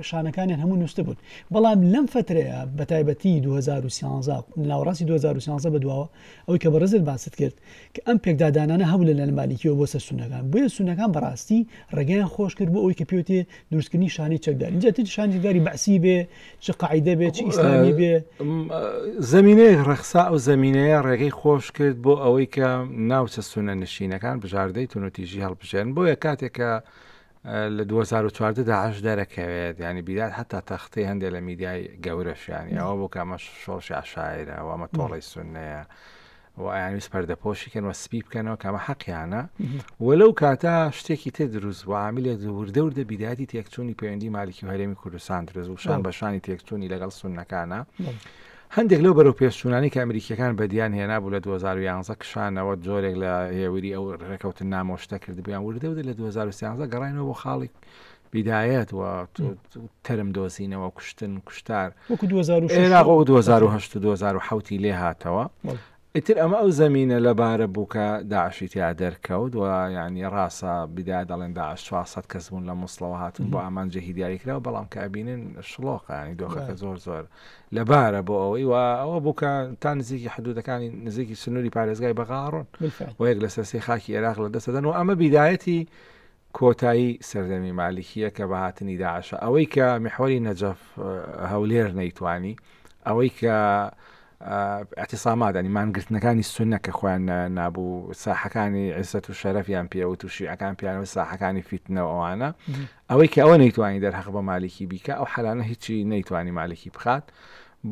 شانەکانیان هەموو نووسبوون بەڵام لەم فترەیە بە تایبەتی 2013 ناوەڕاستی 2013 بە دواوە ئەوەی کە بەڕێزت باست کرد کە ئەم پێکدادانانە هەبوو لە لەنمالیکیەوە بۆ سەر سونەکان بۆیە سونەکان بەڕاستی ڕێگەیان خۆش کرد بۆ ئەوی کە پێوتێ دروستکردنی شانەی چەکدار اینجا تر شانێکداری بەعسی بێ چ قاعدە بێت چ ئیسلامی بێ زمینەیە ڕەخسا ئەو زمینەیە ڕێگەی خۆش کرد بۆ ئەوەی کە ناوچە سونە نشینەکان بژاردەی تونوتیژی هەڵبژێن بۆیە کاتێکە لە 2014 داعش دەرەکەوێت ینی بیدات هەتا تەختی هەندێک لە میدیای گەورەشیانی ئەوە بۆ کامە شۆڕشی عشاعرەوەمە تۆڵی سونەیە و ئایانویست پەردەپۆشی کەن و سپی بکەنەوە کامە حەقیانە و لەو کاتە شتێکی تر دروست بۆ عاملێ وردەوردە بیداتی تێکچوونی پەیوەندی مالکی و هەرێمی کوردستان درز و شان بەشانی تێکچوونی لەگەڵ سونەکانە هەندێک لەو بەرەو پێشچوونانی کە ئەمریکیەکان بەدیان هێنا بوو لە 2011 کشانەوە جۆرێک لە هێوری ئەو ڕێکەوتن نامۆشتە کردبیان وردەودە لە 2013 گەڕینەوە بۆ خاڵی بیدایەت و تەرم دۆزینەوە کوشتن کوشتار وەکو 2010 لێ هاتەوە ئیتر ئەمە ئەو زمینە لەبارە بوو کە داعشی تیا دەرکەوت و ینی ڕاستە بدا دەڵێن داعش 400 کەس بوون لە مسلەوە هاتون بۆ ئامان جێهی دیاریکراوە بەڵام کە ئەبینن شڵۆقانی دۆخەکە زۆر زۆر لەبارە بۆ ئەوەی و ئەوە بووکە تا نزیکی حدودەکانی نزیکی سنووری پارێزگای بەغاڕۆن و یەک لە سەرسی خاکی عێراق لە دەسەدەن و ئەمە بیدایەتی کۆتایی سەردەمی مالکیە کە بە هاتنی داعشە ئەوەی کە میحوەری نەجەف هەولێر نەیتوانی ئەوەی کە ئەتیسامادانی مانگرتنەکانی سونە کە خۆیان نابوو ساحەکانی عزت و شەرەفیان پێوت و شیعەکان پیانەوە ساحەکانی فیتنەوە ئەوانە ئەوەی کە ئەوە نەیتوانی دەرهەق بە مالکی بیکە ئەو حەلانە هیچی نەیتوانی مالکی بخات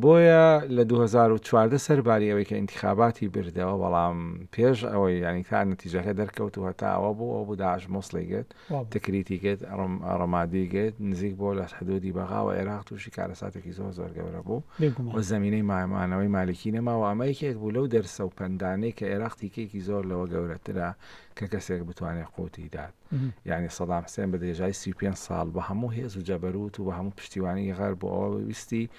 بۆیە لە دوو هەزار و چواردە سەرباری ئەوەی کە ئینتیخاباتی بردەوە بەڵام پێش ئەوەی یانی تا نەتیجەکە دەرکەوت و هەتا ئەوە بوو ئەو بوو داعش موسڵی گرت تکریتی گرت ڕمادی گرت نزیک بۆ لە حدودی بەغا و عێراق تووشی کارەساتێکی زۆر زۆر گەورە بوو و زمینەی مامانەوەی مالکی نەما و ئەمە یەکێک بوو لەو دەرسە و پەندانەی کە عێراق تیکێکی زۆر لەوە گەورەترە کە کەسێک بتوانێت قوتی دات. یانی سەدام حسێن بە درێژای سی و پێنج ساڵ بە هەموو هێز و جەبەرووت و بە هەموو پشتیوانی غەرب بۆ ئەوە ویستی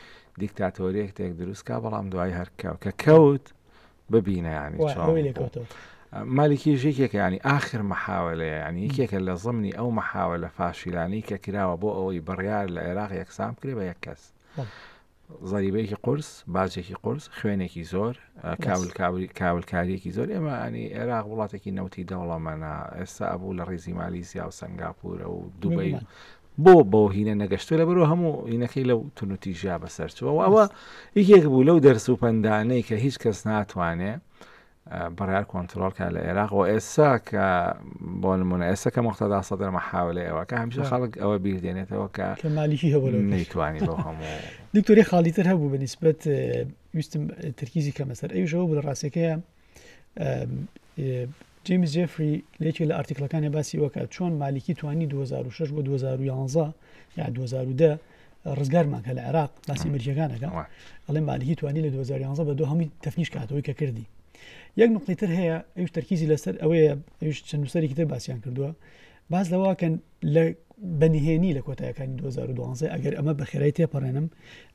دیکتاتۆریەکتێک دروست کا بەڵام دوای هەر کەو کە کەوت ببینە ینی وای، چۆن ئەوەی لێ بوو. کەوتەوە. مالکی ژێکێکە ینی ئاخر مەحاولەیە ینی یەکێکە لە ضمنی ئەو مەحاولە فاشیلانی کە کراوە بۆ ئەوەی بڕیار لە عێراق یەکسان بکرێ بە یەک کەس بەڵێ. زەریبەیەکی قورس، باجێکی قورس، خوێنێکی زۆر، کاول کاوری کاولکاریەکی زۆر ئێمە ئەنی عێراق وڵاتێکی نەوتی دەوڵەمەنا ئێستا ئەبوو لە ڕیزی مالیزیا و سنگاپورە و دوبی بۆ بۆ هینە نەگەشتو لە بەرەوە هەموو هینەکەی لەو تونوتی ژیا بەسەرچەوە ئەوە یەکێک بوو لەو دەرس و پندانەی کە هیچ کەس ناتوانێ بڕیار کۆنترۆڵ کە لە عێراق و ئێستا کە بۆ نمونە ئێستا کە مختدا سەدر مەحاولێ ئەوە کە هەمیشە خەڵک ئەوە بیردێنێتەوە کە مالیکی هەبوو نەیتوانی بۆ هەموو دکتۆری خاڵیتر هەبوو بە نسبەت ویستم ترکیزی کە مەسەر ئەویشەوە بە ڕاستەکەیە جیمز جفری لەکی لە ئارتیکلەکانی باسی وەکە چۆن مالیکی توانی 2006 بۆ 2011 یا 2010 ڕزگارمان کە لە عێراق باسی مەرجەکانەکە ئەڵێ مالیکی توانی لە 2011 بە دو هەمی تەفنیش کاتەوەی کە کردی یەک نقطی تر هەیە ئەوش تەرکیزی لەسەر ئەوەیە ئەوش چەند نووسەرێکی تر باسییان کردووە باز لەواکەن لە بەنهێنی لە کۆتایەکانی 2012 ئەگەر ئەمە بە خێرای تێپەڕێنم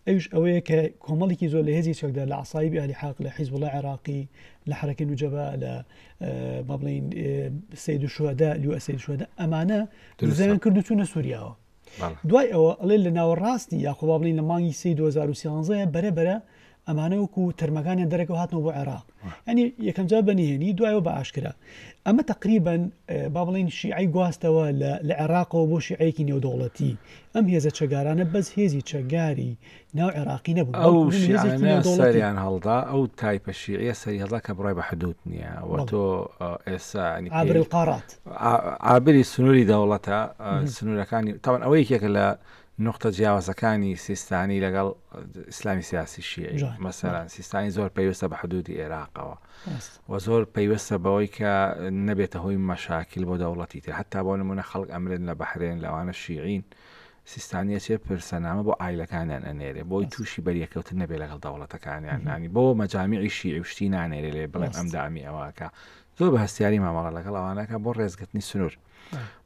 ئەوش ئەوەیە کە کۆمەڵێکی زۆر لە هێزی چەکدا لە عسایبی علی حاق لە حیز وڵە عێراقی لە حرەکە نوجەبا لە بەڵین سید شوهدا لو ئەسید شوهدا ئەمانە زیان کردو چوونە سووریاوە دوای ئەوە ئەڵێ لە ناوەڕاستی یاخۆ با بڵین لە مانگی سی 2013 بەرە بەرە ئەمانە وەکو تەرمەکانیان دەرەکەەوە هاتنەوە بۆ عێراق ئەنی یەکەمجار بەنیهێنی دوایەوە بە ئاشکرا ئەمە تقریبن با بڵین شیعی گواستەوە لە عێراقەوە بۆ شیعەیەکی نێودەوڵەتی ئەم هێزە چەگارانە بەس هێزی چەگاری ناو عێراقی نەبوو ئەو بەڵکو بوونی هێزێکی شیعانە نێودەوڵەتی. سەریان هەڵدا ئەو تایپە شیعە سەری هەڵدا کە بڕای بە حدود نییە و بەڵێ. تۆ ئە، ئێستا ینی پێی- عابر القارات ئا- ئابری سنووری دەوڵەتە ئە، سنوورەکانی تاوان ئەوە یەکێکە لە نوختە جیاوازەکانی سیستانی لەگەڵ ئیسلامی سیاسی شیعی جوان. مەسەلەن سیستانی زۆر پەیوەستە بە حدودی ئێراقەوە ڕاستە و زۆر پەیوەستە بەوەی کە نەبێتە هۆی مەشاکیل بۆ دەوڵەتی تر حتا بۆ نمونە خەڵک ئەمرن لە بەحرێن لەوانە شیعین سیستانی ئەچێ پرسەنامە بۆ عایلەکانیان ئەنێرێ بۆی تووشی بەریەکەوتن نەبێ لەگەڵ دەوڵەتەکانیان نانی بۆ مەجامیعی شیعی و شتی نانێرێ لێ بڵێن ئەم دامی ئەوەکە زۆر بە هەستیاری مامەڵە لەگەڵ ئەوانەکە بۆ ڕێزگرتنی سنوور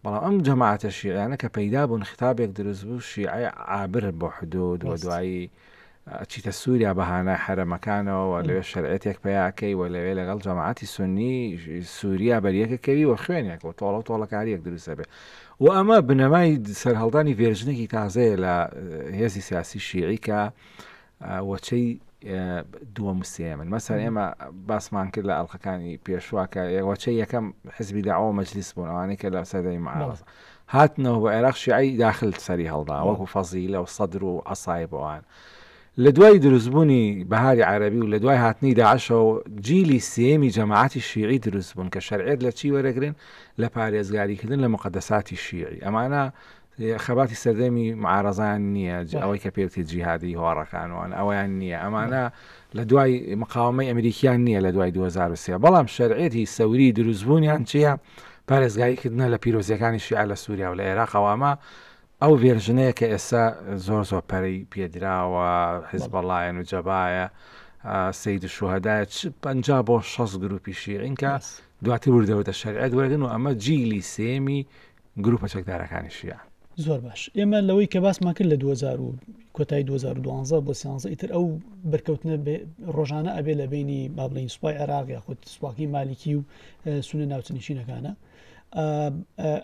بەڵام ئەم جەماعاتە شیعیانە کە پەیدا بوون خطابێک دروست بوو شیعی عابر بۆ حدود و دوایی ئەچیتە سوریا بە هانای حەرەمەکانەوە و لەوێ شەرعیەتێک پەیا ئەکەی و لەوێ لەگەڵ جەماعەتی سوننی سوریا بەریەک ئەکەوی و خوێنێک و تۆڵە و تۆڵەکارییەک دروست ئەبێ و ئەمە بنەمای سەرهەڵدانی ڤێرژنێکی تازەیە لە هێزی سیاسی شیعی کە وەچەی دووەم و سێمن مەسەر ئێمە باسمان کرد لە ئەڵلقەکانی پێشوواکە وەچە یەکەم حزبی داوە مەجلیس بوون ئەوانەی کە لە سەدەی معاڵ هاتنەوە بۆ عێراق شیعەی داخل سەری هەڵدا وەکو فەزیلە و سەدر و عەسایب و ئەوان لە دوای دروستبوونی بەهاری عەرەبی و لە دوای هاتنی داعشەوە جیلی سێمی جەماعەتی شیعی دروست بوون کە شەرعێت لە چی وەرەگرن لە پارێزگاریکردن لە مقدەساتی شیعی ئەمانە خەباتی سەردەمی معارەزان نییە ئەوەی کە پێوتی جیهادی هۆڕەکانوان ئەویان نییە ئەمانە لە دوای مقاوەمەی ئەمریکیان نییە لە دوای دوو هەزار و سێ، بەڵام شەرعیەتی سەوری دروستبوونیان چییە؟ پارێزگاری کردنە لە پیرۆزیەکانی شیعە لە سوریا و لە ئێراق و ئەمە ئەو ڤێرژنەیە کە ئێستا زۆر زۆر پەرەی پێدراوە حیزبەڵایەن و جەبایە سید شوهدایە چ پەنج بۆ شەست گروپی شیعین کە دواتر وردەوردە شەرعەت وەرگن و ئەمە جیلی سێمی گروپە چەکدارەکانی شیعە. زۆر باش ئێمە لەوەی کە باسمان کرد لە دوو هەزار و کۆتایی دوو هەزار و دوازدە بۆ سیانزە ئیتر ئەو بەرکەوتنە ڕۆژانە ئەبێ لە بینی با بڵین سوپای عێراق یاخود سوپاکی مالیکی و سونە ناوچنشینەکانە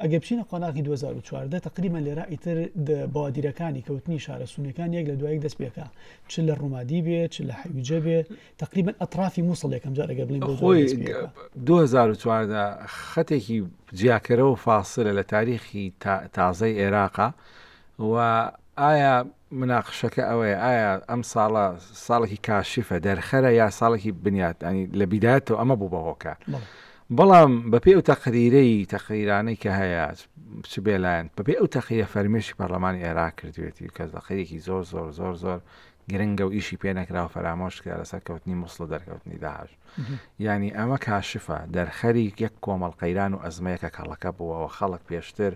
ئەگەر بچینە قۆناغی 2014 تقریبا لێرا ئیتر بادیرەکانی کەوتنی شارە سونەکان یەک لە دوایەک دەست پێکا چ لە ڕوومادی بێ چ لە حەویجە بێ تقریبا ئەترافی مووسڵ یەکەم جار ئەگەر بڵین خۆی 2014 خەتێکی جیاکەرەوە فاسرە لە تاریخی تازای عێراقا و ئایا مناقشەکە ئەوەیە ئایا ئەم ساڵە ساڵێکی کاشفە دەرخەرە یا ساڵێکی بنیات ئەنی لە بیداتەوە ئەمە بوو بە هۆکار بەڵام بەپێ ئەو تەقریرەی تەقریرانەی کە هەیە چ بێلایەن بەپێ ئەو تەقیە فەرمێشی پەرلەمانی عێراق کردوێتی کە زەقەیەکی زۆر زۆر زۆر زۆر گرنگە و ئیشی پێ نەکرا و فەرامۆش کرا لەسەر کەوتنی موسڵ و دەرکەوتنی داعش یانی ئەمە کاشفە دەرخەری یەک کۆمەڵ قەیران و ئەزمەیەکە کەڵەکە بووەوە خەڵک پێشتر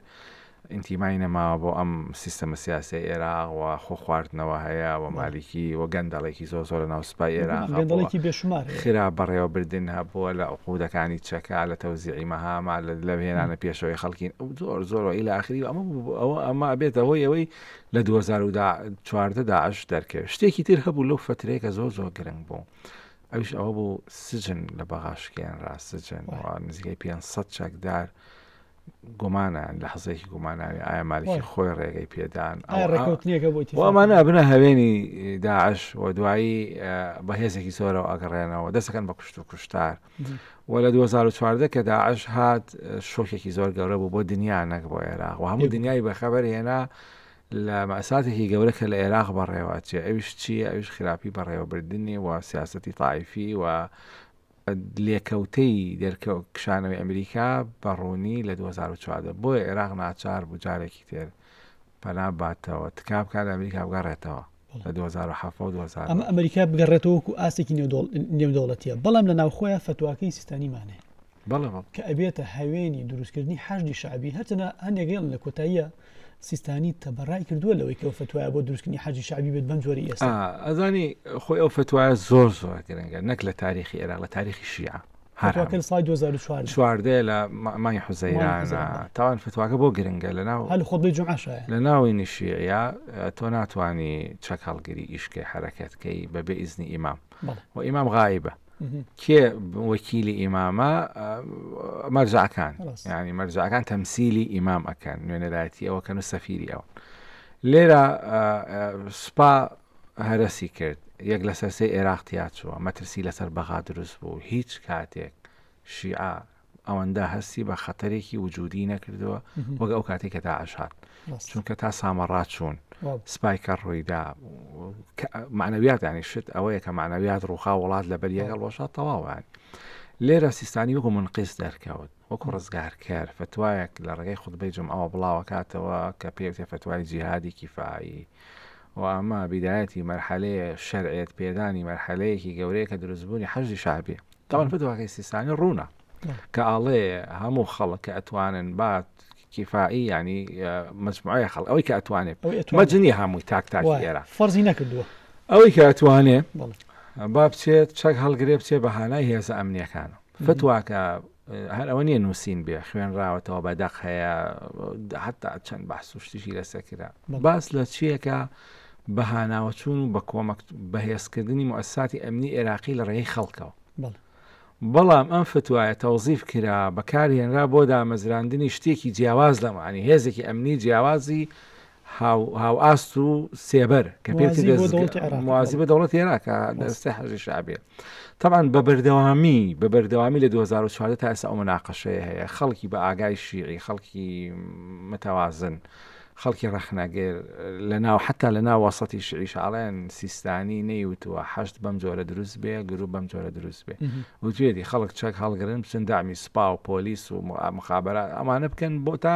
ئینتیمای نەماوە بۆ ئەم سیستەمە سیاسی ئێراق و خۆ خواردنەوە هەیە و مالیکی و گەندەڵێکی زۆر زۆر لە ناو سوپای ئێراق گەندەڵێکی بێشمار هەیە. خرا بەڕێوەبردن هەبووە لە عقودەکانی چەکا لە تەوزیعی مەهاما لە لەوهێنانە پێشەوەی خەڵکین ئەو زۆر زۆر و ئیلی ئاخری و ئەمە بوو ئەوە ئەمە ئەبێتە هۆی ئەوەی لە دوو هەزار و چواردە داعش دەرکەوێت شتێکی تر هەبوو لەو فترەیە کە زۆر زۆر گرنگ بوو ئەوش ئەوە بوو سجن لە بەغاشکیان ڕاستجن نزیکای 500 چەکدار گومانیان لە حزێکی گوماناوی ئایا مالکی خۆی ڕێگەی پێدان ئەومانە بنە هەوێنی داعش و دوایی بەهێزێکی زۆرەوە ئەگەڕێنەوە دەستەکەن بە کوشت و کوشتار وە لە دوو هەزار و چواردە کە داعش هات شۆکێکی زۆر گەورە بوو بۆ دنیا نەک بۆ عێراق و هەموو دنیای بەخەبەر هێنا لە مەساتێکی گەورە کە لە عێراق بەڕێوە چێ ئەوش چییە ئەوش خراپی بەڕێوەبردننی و سیاستی تاایفی و لێکەوتەی دەرکە و کشانەوەی ئەمریکا بەڕوونی لە 2014 بۆیە عێراق ناچار بوو جارێکی تێر پەنا باتەوە تکا بکات ئەمریکا بگەڕێتەوە لە دوو هەزار و حەفت و دوو هەزار و ئەمە ئەمریکا بگەڕێتەوە وەکو ئاستێکی نێو دەوڵ- نێودەوڵەتیە بەڵام لە ناوخۆیان فتواکەی سیستانیمان هەیە بەڵێ بەڵێ کە ئەبێتە هاوێنی دروستکردنی حەشدی شعبی هەرچەنە هەندێکیان لە کۆتاییە سیستانی تەبەڕای کردووە لەوەی کە فتوایە بۆ دروستکردنی حەجی شعبی بێت بەم جۆری ئێستا ئا، ئەزانی خۆی ئەو فتوایە زۆر زۆر گرنگە نەک لە تاریخی عێراق لە تاریخی شیعە هەر هەموو. فتواکەی ساڵی دوو هەزار و چواردە. چواردە لە مانگی حوزەیرانە. تاوان فتواکە بۆ گرنگە لەناو. هەر لە خوتبەی جومعە شایە. لە ناوەینی شیعیە تۆ ناتوانی چەک هەڵگری ئیش کەی حەرەکەت کەی بە بێ ئیزنی ئیمام. بەڵێ. وە ئیمام غائیبە. کێ وەکیلی ئیمامە مەرجەعەکان. ڕاست. یانی مەرجەعەکان تەمسیلی ئیمام ئەکەن نوێنەرایەتی ئەو ئەکەن و سەفیری ئەون. لێرە سوپا هەرەسی کرد یەک لەسەر سێ ئێراق تیاچووە، مەترسی لەسەر بەغا دروست بوو، هیچ کاتێک شیعە ئەوەندە هەستی بە خەتەرێکی وجودی نەکردووە وەک ئەو کاتی کە داعش هات چونکە تا سامەڕا چوون سپایکە ڕوویدا معنەویات ینی شت ئەوەیە کە معنەویات ڕووخا وڵات لەبەر یەگەڵ ڕۆژە تەواوان لێرە سیستانی وەکو منقیس دەرکەوت وەکو ڕزگارکەر فەتوایەک لە ڕێگەی خوتبەی جومعەوە بڵاوەکاتەوە کە پێوتێ فەتوای جیهادی کیفایی و ئەمە بیدایەتی مەرحەلەیە شەرعێت پێدانی مەرحەلەیەکی گەورەیە کە دروستبوونی حەشی شعبی تاوان فەتواکەی سیستانی ڕوونە کە ئاڵێ هەموو خەڵک کە ئەتوانن بات کیفایی ینی مجموعە خەڵ ئەوەی کە ئەتوانێت مەجنی هەمووی تاک تاک ئێرە فەرزی نەکردووە ئەوەی کە ئەتوانێت با بچێت چەک هەڵگرێ بچێ بە هانای هێزە ئەمنیەکانە فتواکە هەر ئەوە نیە نووسین بێ خوێنراوەتەوە بە دەق هەیە حتا چەند بەحس و شتیشی لەسەر کرا باس لە چیەکە بە هاناوەچوون و بە کۆمەک بەهێزکردنی موساتی ئەمنی عێراقی لە ڕێی خەڵکەوە بەڵام ئەم فتوایە تەوزیف کرا بەکارهێنرا بۆ دامەزراندنی شتێکی جیاواز لەمانی هێزێکی ئەمنی جیاوازی هاوئاست و سێبەر کە پێوتی موازی بە دەوڵەت عێراقە دەستی حەزی شعبێ تەمان بە بەردەوامی بە بەردەوامی لە 2014 تا ئێستا ئەو ناقەشەیە هەیە خەڵکی بە ئاگای شیعی خەڵکی متەوازن خەڵکی ڕەخنەگەر لە ناو حتا لە ناو وەسەتی شعیش ئاڵێن سیستانی نەیوتوە حەشت بەم جۆرە دروست بێ گروپ بەم جۆرە دروست بێ وتێتی خەڵک چەک هەڵگرن بچن دامی سپا و پۆلیس و مخابرات ئەمانە بکەن بۆ تا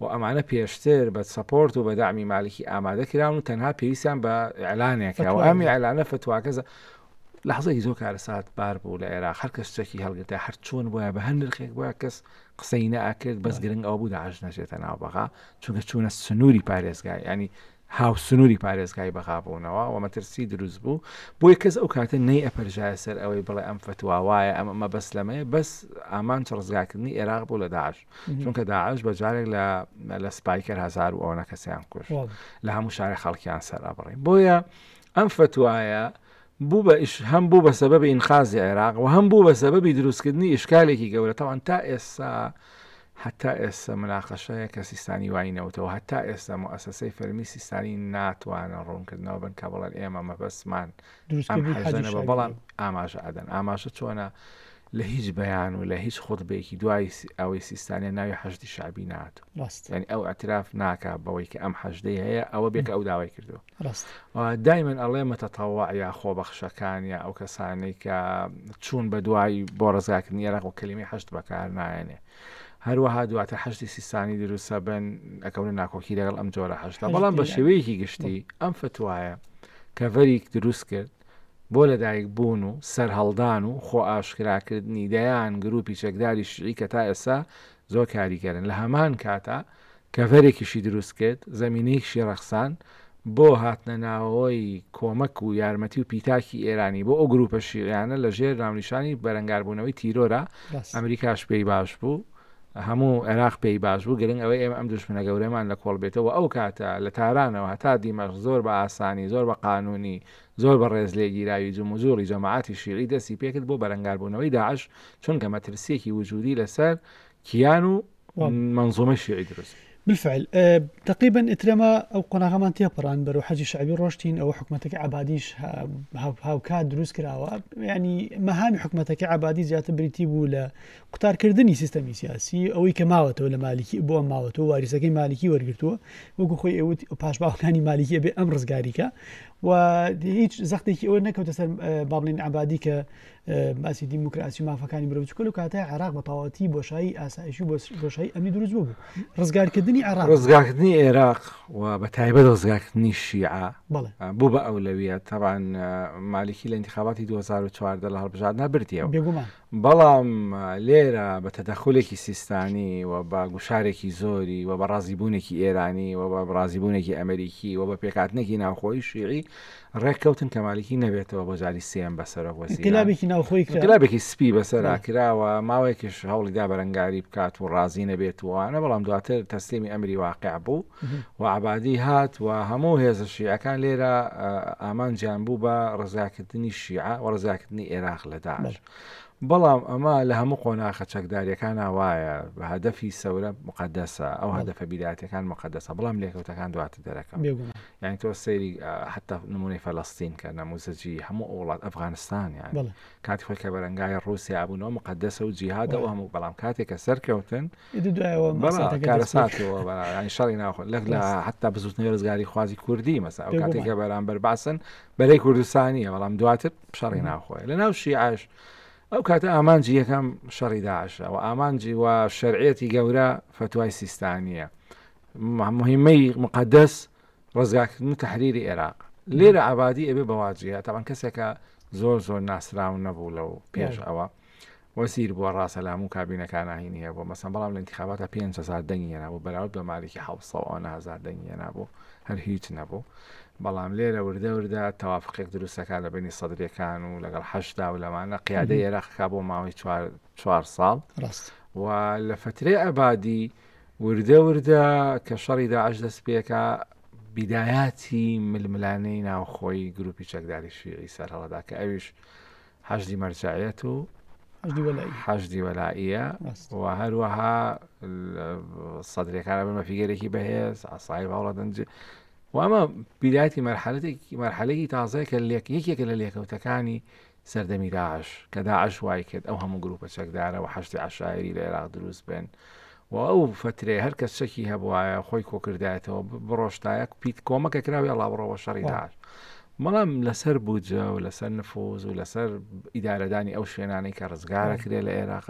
و ئەمانە پێشتر بە سەپۆرت و بە دەعمی مالکی ئامادە کراون و تەنها پێویستیان بە ئیعلانێکە و ئەم ئیعلانە فەتواکە زە لەحزەیەکی زۆر کارەسات بار بوو لە ئێراق هەر کەس چەکی هەڵگرتە هەر چۆن بووە بە هەر نرخێک بووە کەس قسەی نەئەکرد بەس گرنگ ئەو بوو داعش نەچێتە ناو بەغا چونکە چوونە سنووری پارێزگای ینی هاو سنووری پارێزگای بەغا بوونەوە و مەترسی دروست بوو بۆی کەس ئەو کاتە نەی ئەپەرژایە سەر ئەوەی بڵێ ئەم فتواوایە ئەمە بەس لەمەیە بەس ئامانچ ڕزگاکردنی عێراق بوو لە داعش چونکە داعش بە جارێک لە لە سپایکەر هزار و ئەوە کەسیان کوش لە هەموو شارە خەڵکیان سەر ئەبڕی بۆیە ئەم فتوایە بوو بە ئیش هەم بوو بە سەبەبی ئینخازی عێراق و هەم بوو بە سەبەبی دروستکردنی ئیشکالێکی گەورەتەوان تا ئێستا هەتا ئێستا مناقەشەیە کە سیستانی وای نەوتەوە هەتا ئێستا مؤسسەی فەرمی سیستانی ناتوانە ڕوونکردنەوە بن کە بڵێن ئێمە مەبەستمان ئەم حەزەنە بە بەڵام ئاماژە ئەدەن ئاماژە چۆنە لە هیچ بەیان و لە هیچ خودبێکی دوای ئەوەی سیستانە ناوی حەشتی شابی نات ینی ئەو ئەتراف ناکە بەوەی کە ئەم حەشدەی هەیە ئەوە بێک ئەو داوای کردو دایمن ئەڵێ مەتەتەوا یا خۆبەخشەکان یا ئەو کەسانەی کە چوون بە دوای بۆ ڕزگاکردنی ێراق و کەلیمی حەشت بەکار نایەنێ هەروەها دواتر حەشدی سیستانی دروست ئەبن ئەکەونە ناکۆکی لەگەڵ ئەم جۆرە حەشدا بەڵام بە شێوەیەکی گشتی ئەم فتوایە کەڤەریک دروست کرد بۆ لەدایک بوون و سەرهەڵدان و خۆ ئاشکراکردنی دەیان گروپی چەکداری شعی کە تا ئێستا زۆر کاریگەرن لە هەمان کاتا کەڤەرێکیشی دروست کرد، زەمینەیەکشی ڕەخساند بۆ هاتنە ناوەوەی کۆمەک و یارمەتی و پیتاکی ئێرانی بۆ ئەو گرووپە شیعیانە لە ژێر ناونیشانی بەرەنگاربوونەوەی تیرۆرا، بەس. ئەمریکاش پێی باش بوو، هەموو عێراق پێی باش بوو، گرنگ ئەوەی ئێمە ئەم دوژمنە گەورەمان لە کۆڵ بێتەوە و ئەو کاتە لە تارانەوە هەتا دیمەشق زۆر بە ئاسانی، زۆر بە قانوونی، زۆر بە ڕێزلێگیراوی جموجووڵی جەماعەتی شیعی دەستی پێکرد بۆ بەرەنگاربوونەوەی داعش، چونکە مەترسییەکی وجوودی لەسەر کیان و. مەنزۆمەی شیعی دروست بالفعل تقریبا ئترەما ئەو قۆناغەمان تێپەڕان بەرو حەجی شعبی ڕۆشتین ئەو حکوومەتەکە عبادیش هاوکات دروست کراوە ینی مەهامی حکوومەتەکە عبادی زیاتر بریتی بوو لە قوتارکردنی سیستەمی سیاسی ئەوەی کە ماوەتەوە لە مالیکی بۆ ماوەتەوە واریسەکەی مالیکی وەرگتووە وەکو خۆی ئەوت پاشباوکانی مالیکی بێ ئەم ڕزگاریکە و هیچ زەختێکی ئەوە نەکەوتە سەر بابلین عبادی کە باسی دیموکراسی و مافەکانی مرۆڤ چکل و کاتای عراق بە تەواتی بۆشایی ئاسایشی بۆشایی ئەمی دروست بوو ڕزگارکردنی عراق ڕزگارکردنی عێراق و بە تایبەت ڕزگارکردنی شیعە بوو بە ئەولەویە تاوان مالیکی لە انتخاباتی 2014 لە هەڵبژاردنا بردیەوە بەڵام لێرە بە تەدەخولێکی سیستانی و بە گوشارێکی زۆری و بە ڕازیبوونێکی ئێرانی و بە ڕازیبوونێکی ئەمریکی و بە پێکاتنێکی ناوخۆی شیعی ڕێککەوتن کە مالیکی نەبێتەوە بۆ جاری سێم بە سەرۆک وەزیرانێکی ناوخۆی گلابێکی سپی بەسەرا کراوە ماوەیەکیش هەوڵیدا بەرەنگاری بکات و ڕازی نەبێت وانە بەڵام دواتر تەسلیمی ئەمری واقع بوو و عبادی هات و هەموو هێزە شیعەکان لێرە ئامانجیان بوو بە ڕزاکردنی شیعە و ڕزاکردنی عێراق لە داعش بەڵام ئەمە لە هەموو قۆناخە چەکداریەکان وایە بە هەدەفی سەورە مقدەسە ئەو هەدەفە بیراتەکان مقدەسە بەڵام لێکەوتەکان دواتر دەرەکەم یانی تۆ سەیری حتا نمونەی فەلەستین کە نەموزەجی هەموو ئەو وڵات ئەفغانستان یان کاتی خۆی کە بەرەنگای ڕوسیا بوون و مقدسە و جیهادە و هەموو بەڵام کاتێک کە سەرکەوتن شەڕی ناخۆ لەک لە حتا بزوتنی ڕزگاری خوازی کوردی مەسا ئەو کاتێک کە بەرامبەر باسن بەرەی کوردستانیە بەڵام دواتر شەڕی ناخۆی لە ناو شیعش ئەو کاتە ئامانجی یەکەم شەڕی داعشە و ئامانجی و شەرعەتی گەورە فتوای سیستانیە موهیمەی موقەدەس ڕزگارکردن و تەحریری ئێراق لێرە عەبادی ئەبێ بە واجیە تاوان کەسێکە زۆر زۆر ناسراو نەبوو لەو پێش ئەوە وەزیر بووە ڕاستە لە هەموو کابینەکان ناهینی هەیە بۆ مەسەن بەڵام لە انتخاباتە پێ هزار دەنگی هێنا بوو بەراورد بە مالکی حوسەوە نهزار دەنگی هێنا بوو هەر هیچ نەبوو بەڵام لێرە وردە وردە تەوافقێک دروستەکە لە بینی سەدرەکان و لەگەڵ حەشدا و لەمانە قیادە عێراقا بۆ ماوەی چوار ساڵ و لە فترێ ئەبادی وردە وردە کە شەڕی داعش دەست پێکا بیدایاتی ململانێی ناوخۆی گروپی چەکداری شیعی سەر هەڵدا کە ئەویش حەشدی مەرجایەت و حەشدی وەلائە و هەروەها سەدرەکانە بمە فیگەرێکی بەهێز ئاسایی باوڵە دەنج و ئەمە بیداتی مەرحەلەتێکی مەرحەلەی تازەیە کە لێک یەکێکە لە لێکەوتەکانی سەردەمی داعش کە داعش وایکرد ئەو هەموو گروپە چەکدارە و حەشدی عەشایری لە ئێراق دروست بێن و ئەو فەترێ هەر کەس چەکی هەبواە خۆی کۆکردایەتەوە بڕۆشتایە پیت کۆمەکە کراوی ئەڵاوڕەوە شەڕی داعش مەڵام لەسەر بودجە و لەسەر نفوز و لەسەر ئیدارەدانی ئەو شوێنانەی کە ڕزگارە کرێ لە عێراق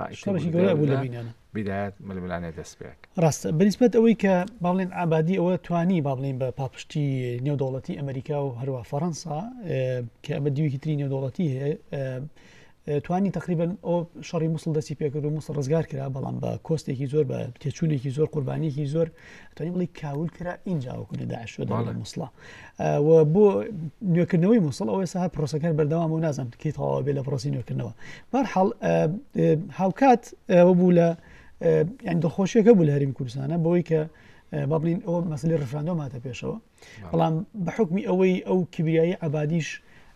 بداێت ململانێ دەست پێک. ڕاستە بەنیسبەت ئەوەی کە با بڵێن عەبادی ئەوە توانی با بڵین بە پاپشتی نێودەوڵەتی ئەمریکا و هەروە فەڕەنسا کە ئەمە دیویکی تری نێودەوڵەتی هەیە توانی تقریبن ئەو شەڕی مووسڵ دەستی پێکرد و مووسڵ ڕزگار کرا بەڵام بە کۆستێکی زۆر بە تێچوونێکی زۆر قوربانیکی زۆر توانی بڵی کاول کرا اینجا وەکو لە داعش شو دەڵێ مووسڵا و بۆ نوێکردنەوەی مووسڵ ئەوە ساها پرۆسەکان بەردەوام و نازم کەی تەواوە بێ لە پرۆسی نوێکردنەوە بارحاڵ هاوکات ئەوە بوو لە یان دڵخۆشیەکە بوو لە هەریم کوردستانە بۆی کە بابلین ئەو مەسلی ڕفراندۆ ماتە پێشەوە بەڵام بە حکمی ئەوەی ئەو کبریایی عبادیش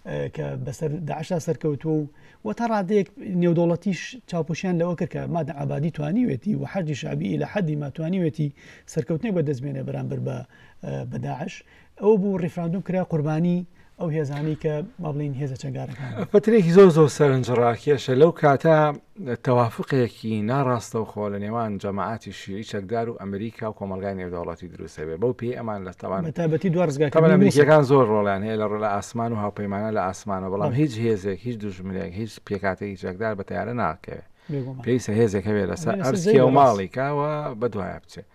کە بەسەر داعشا سەرکەوتووە و و تا ڕادێک نێودوڵەتیش چاوپۆشیان لەوە کرد کە مادە عبادی توانیوێتی و حەجی شابی لە حەدی ماتوانیوێتی سەرکەوتنی بەدەستمێنێ بەرامبەر بە بەداعش ئەو بوو ڕیفراندوم کرا قوربانی ئەو هێزانەی کە با بڵێن هێزە چەکدارەکان بن. فترەیەکی زۆر زۆر سەرنجڕاکێشە لەو کاتە تەوافقێکی ناڕاستەوخۆ لە نێوان جەماعاتی شیعی چەکدار و ئەمریکا و کۆمەلگای نێودەوڵەتی دروستە بێ بەو پێی ئەمان لە تەوان بە تابەتی دو ڕزگاکە تەبەن ئەمریکیەکان زۆر ڕۆڵیان هەیە لە ڕۆ لە ئاسمان و هاوپەیمانە لە ئاسمانە بەڵام هیچ هێزێک هیچ دوژمنێک هیچ پێکاتێکی چەکدار بە تیارە ناکەوێت بێگومان. پێویستە هێزێک هەبێت لەسەر بێ لەسەر ئەرزی زەوی و بەڕاست. ماڵیکەوە بە دوایە بچێت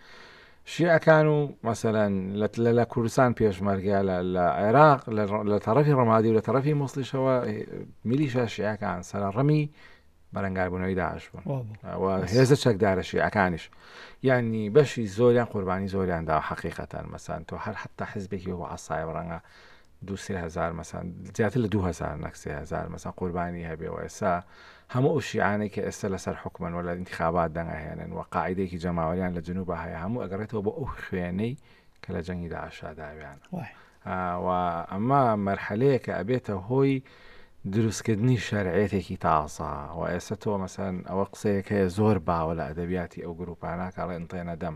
شیعەکان و مەسەلەن لە لە کوردستان پێشمەرگە لە عێراق لە تەڕەفی ڕمادی و لە تەڕەفی موسلیشەوە میلیشە شیعەکان سەرە ڕمی بەرەنگاربوونەوەی داعش بوون هێزە چەکدارە شیعەکانیش یعنی بەشی زۆریان قوربانی زۆریاندا حقیقەتان مەسان تۆ هەر حتا حزبێکی و عسای ڕەنگە دوو سێ هەزار مەسان زیاتر لە دوو هەزار نەک سێ هەزار مەسان قوربانی هەبێ و ئێستا هەموو ئەو شیعانەی کە ئێستا لەسەر حکومن وە لە انتخابات دەنگەهێنن و قاعدەیەکی جەماوەریان لە جنوب هەیە هەموو ئەگەڕێتەوە بۆ ئەو خوێنەی کە لە جەنگی داعشا داویان وای. آ، و ئەمە مەرحەلەیە کە ئەبێتە هۆی دروستکردنی شەرعێتێکی تازە و ئێستا تۆ مەسەن ئەوە قسەیەک هەیە زۆر باوە لە ئەدەبیاتی ئەو گروپانە کاڵێ انتێنە دەم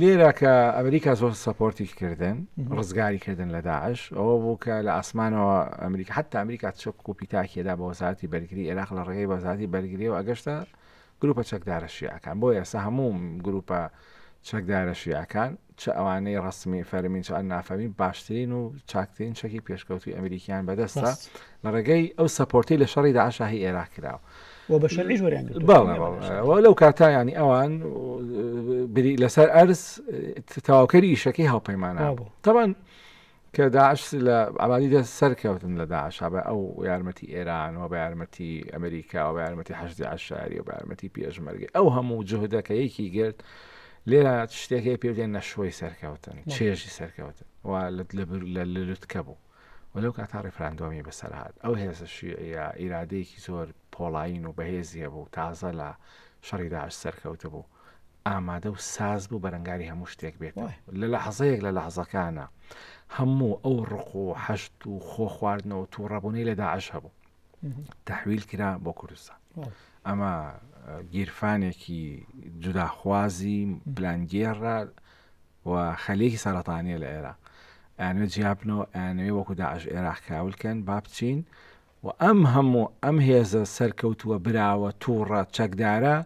لێرە کە ئەمریکا زۆر سەپۆرتی کردن ڕزگاری کردن لە داعش ئەوە بوو کە لە ئاسمانەوە ئەمریکا حتا ئەمریکا چک و پیتاکێدا بە وەزارتی بەرگری عێراق لە ڕێگەی بەزاتی بەرگری و ئەگەشتە گروپە چەکدارە شیعەکان بۆ ئێستا هەموو گروپە چەکدارە شیعەکان چ ئەوانەی ڕسمی فەرمین چ نافەرمی باشترین و چاکترین چەکی پێشکەوتوی ئەمریکیان بەدەستە لە ڕێگەی ئەو سەپۆرتەی لە شەڕی داعشا هی ئێراق کرا و و بە شەرعیش وەریان گرتووە. بەڵێ بەڵێ بەشەرعیش. و لەو کاتا ینی ئەوان و، بری لەسەر ئەرز تەواوکەری ئیشەکەی هاوپەیمانان وا بوو. بوو تەبان کە داعش لە عەبادی دە سەرکەوتن لە داعشا بە ئەو یارمەتی ئێران و بە یارمەتی ئەمریکا و بە یارمەتی حەشدی عەشاری و بە یارمەتی پێشمەرگەی ئەو هەموو جوهدە کە یەکی گرت لێرە شتێک هەیە پێ بدێن نەشۆی سەرکەوتن چێژی سەرکەوتن و لە لە بر- لە لوتکە بوو و لەو کاتە ڕیفراندۆمی بەسەر هات ئەو هێزە شیعیە ئیرادەیەکی زۆر پۆڵایین و بەهێزی هەبوو تازە لە شەڕی داعش سەرکەوتە بوو ئامادە و ساز بوو بەرەنگاری هەموو شتێک بێت لە لە حەزەیەک لە لە حەزەکانە هەموو ئەو ڕق و حەشت و خۆ خواردنەوە تو ڕەبوونەی لە داعش هەبوو تحویل کرا بۆ کوردستان ئەمە گیرفانێکی جوداخوازی پلانگێڕە و خەلیەکی سەرەتانیە لە ئێرە ئەیانوێ جیابنەوە ئەیانوێ وەکو داعش ئێراق کاولکەن با بچین و ئەم هەموو ئەم هێزە سەرکەوتووە براوە تووڕە چەکدارە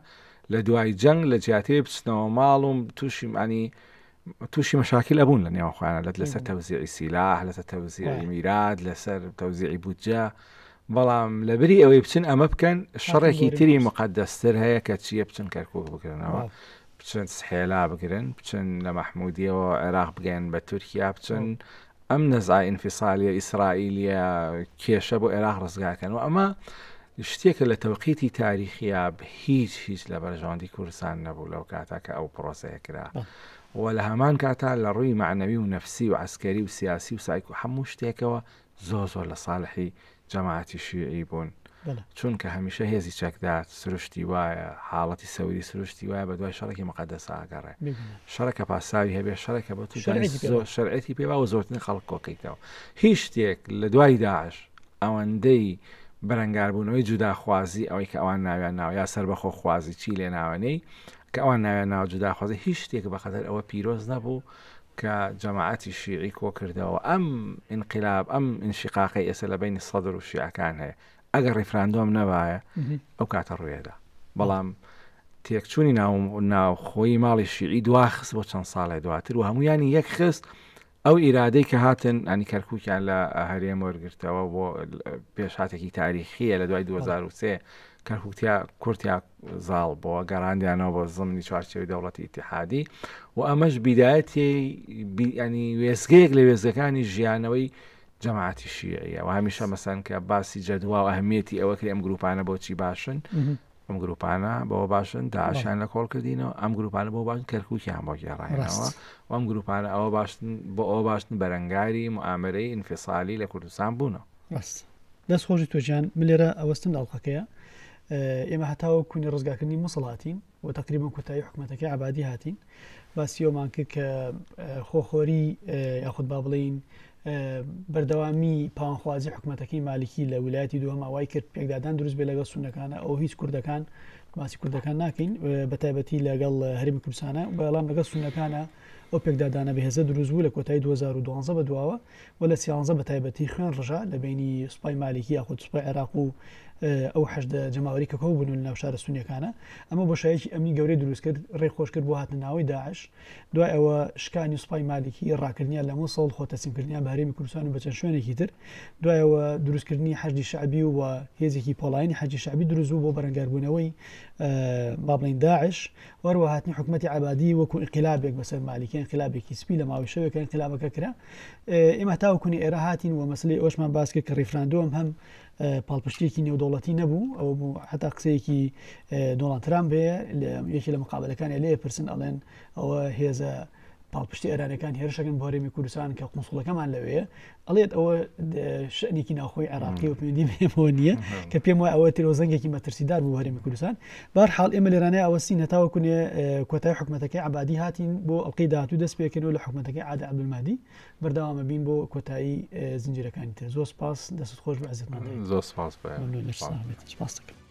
لە دوای جەنگ لە جیاتێ بچنەوە ماڵ و تووشیمانی تووشی مەشاکیل ئەبوون لە نێوەخوایان لەت لەسەر تەوزیعی سیلاح لەسەر تەوزیعی میرات لەسەر تەوزیعی بودجە بەڵام لە بری ئەوەی بچن ئەمە بکەن شەڕێکی تری مقدەستر هەیە کە چیە بچن کەرکک بکردنەوە بچن سحێلا بگرن بچن لە مەحمودیەوە عێراق بگەن بە تورکیا بچن ئەم نەزای ئینفیسالیە ئیسرائیلیە کێشە بۆ عێراق ڕزگاکەن و ئەمە شتێکە لە تەوقیتی تاریخیا هیچ هیچ لە بەرژەوەندی کوردستان نەبوو لەو کاتا کە ئەو پرۆسەیە کرا و لە هەمان کاتا لە ڕووی معنەوی و نەفسی و عسکەری و سیاسی و سایکو هەموو شتێکەوە زۆر زۆر لە ساڵحی جەماعەتی شیعی بوون چونکە هەمیشە هێزی چەکدار سروشتی وایە حاڵەتی سەوری سروشتی وایە بە دوای شەڕێکی مقدەس ئاگەڕێ شەڕەکە پاساوی هەبێ شەڕێکە بۆ زۆر شەرعەتی پێوا و زۆرتن خەڵک کۆکەیتەوە هیچ شتێک لە دوای داعش ئەوەندەی بەرەنگاربوونەوەی جوداخوازی ئەوەی کە ئەوان ناویان ناو یا سەر بەخۆ خوازی چی لێ ناوەنەی کە ئەوان ناوێن ناو جوداخوازی هیچ شتێک بەقەدەر ئەوە پیرۆز نەبوو کە جەماعەتی شیعی کۆکردەوە ئەم ئینقلاب ئەم ئینشقاقی ئێسە لە بینی سەدر و شیعەکان هەیە ئەگەر ڕیفراندۆم نەبایە ئەو کاتە ڕوێدا بەڵام تێکچوونی ناو ناوخۆی ماڵی شیعی دواخست بۆ چەند ساڵێ دواتر و هەمویانی یەک خست ئەو ئیرادەی کە هاتن ئەنی کەرکووکیان لە هەرێم وەرگرتەوە بۆ پێشاتێکی تاریخیە لە دوای 2023 کەرکوکتیا کورتیا زاڵ بۆە گەڕاندیانەوە بۆ زمنی چوارچەوەی دەوڵەتی ئیتحادی و ئەمەش بیدایەتی بیانی وێزگەیەک لە وێزەکانی ژیانەوەی جەماعاتی شیعە و هەمیشە مەسەن کە باسی جەدوا و ئەهمیەتی ئەوە کرێ ئەم گروپانە بۆچی باشن ئەم گروپانە بەوە باشن داعشان لە کۆڵ کردینەوە ئەم گروپانە بۆ باشن کەرکوکیان بۆ گێڕایەوە ئەم گروپانە ئەوە باشن بۆ ئەوە باشن بەرەنگاری معامرەی ئینفیسالی لە کوردستان بوونەوە ڕاست دەست خۆش توێژیان من لێرە ئەوەستم لە ئەڵلقەکەیە ئێمە هەتاوە کونی ڕزگاکردنی مسڵاتین و تقریبم کوتایی حکوومەتەکە عبادی هاتین باسیۆمان کرد کە خۆخۆری یاخود با بڵین بەردەوامی پاوانخوازی حکوومەتەکەی مالیکی لە ولایەتی دووەماوای کرد پێکدادان دروست بێ لەگەڵ سونەکانە ئەو هیچ کوردەکان باسی کوردەکان ناکەین بە تایبەتی لەگەڵ هەرمی کوردستانە بەڵام لەگەڵ سونەکانە ئەو پێکدادانە بەهێزە دروست بوو لە کۆتای 2012 بە دواوە و لە سیانزە بە تایبەتی خوێن ڕژا لە بەینی سوپای مالیکی یاخود سوپای عێراق و ئەو حەشدە جەماوەری کە کۆ بوون لە ناو شارە سونیەکانە ئەمە بۆ شایەکی ئەمنی گەورەی دروست کرد ڕێ خۆش کرد بۆ هاتنە ناوەی داعش دوای ئەوە شکانی سوپای مالیکی ڕاکردنیان لە مووسڵ خۆ تەسیمکردنیان بە هەرێمی کوردستان و بە چەند شوێنێکی تر دوایەوە دروستکردنی حەشدی شعبی و هێزێکی پۆڵایانی حەجی شعبی دروست بوو بۆ بەرەنگاربوونەوەی بابلین داعش وەروە هاتنی حکومەتی عەبادی وەکو ئینقلابێک بەسەر مالیکی ئینقلابێکی سپی لە ماوەی شەوێکە ئینقلابەکە کرا ئێمە تاوکونی ئێرە هاتین و مەسلی ئەوشمان باسکە کە ڕیفراندۆم هەم پاڵپشتێکی نێودوڵەتی نەبوو ئەو بوو حتا قسەیەکی دۆڵان ترام بێ یەکی لە مقابلەکانی لێ پرسن ئەڵێن ئەوە هێزە پاڵپشتی ئێرانەکان هێرشەکەن بۆ هەرێمی کوردستان کە قونسڵەکەمان لەوەیە ئەڵێت ئەوە شەنێکی ناخۆی عێراقی و پێندی بێمەوە نییە کە پێم وای ئەوە تیرۆزەنگێکی مەترسیدار بوو هەرێمی کوردستان بار حاڵ ئێمە لێرانە ئەوەسی نەتاوە کونێ کۆتای حکوومەتەکەی عبادی هاتین بۆ ئەڵلقەی داات و دەست پێکردنەوە لە حکوومەتەکەی عادە عبدمادی بەرداوامە بین بۆ کۆتایی زنجیرەکانی تر زۆر سپاس دەست خۆش بە عزت زۆر سپاس سپاس دەکەم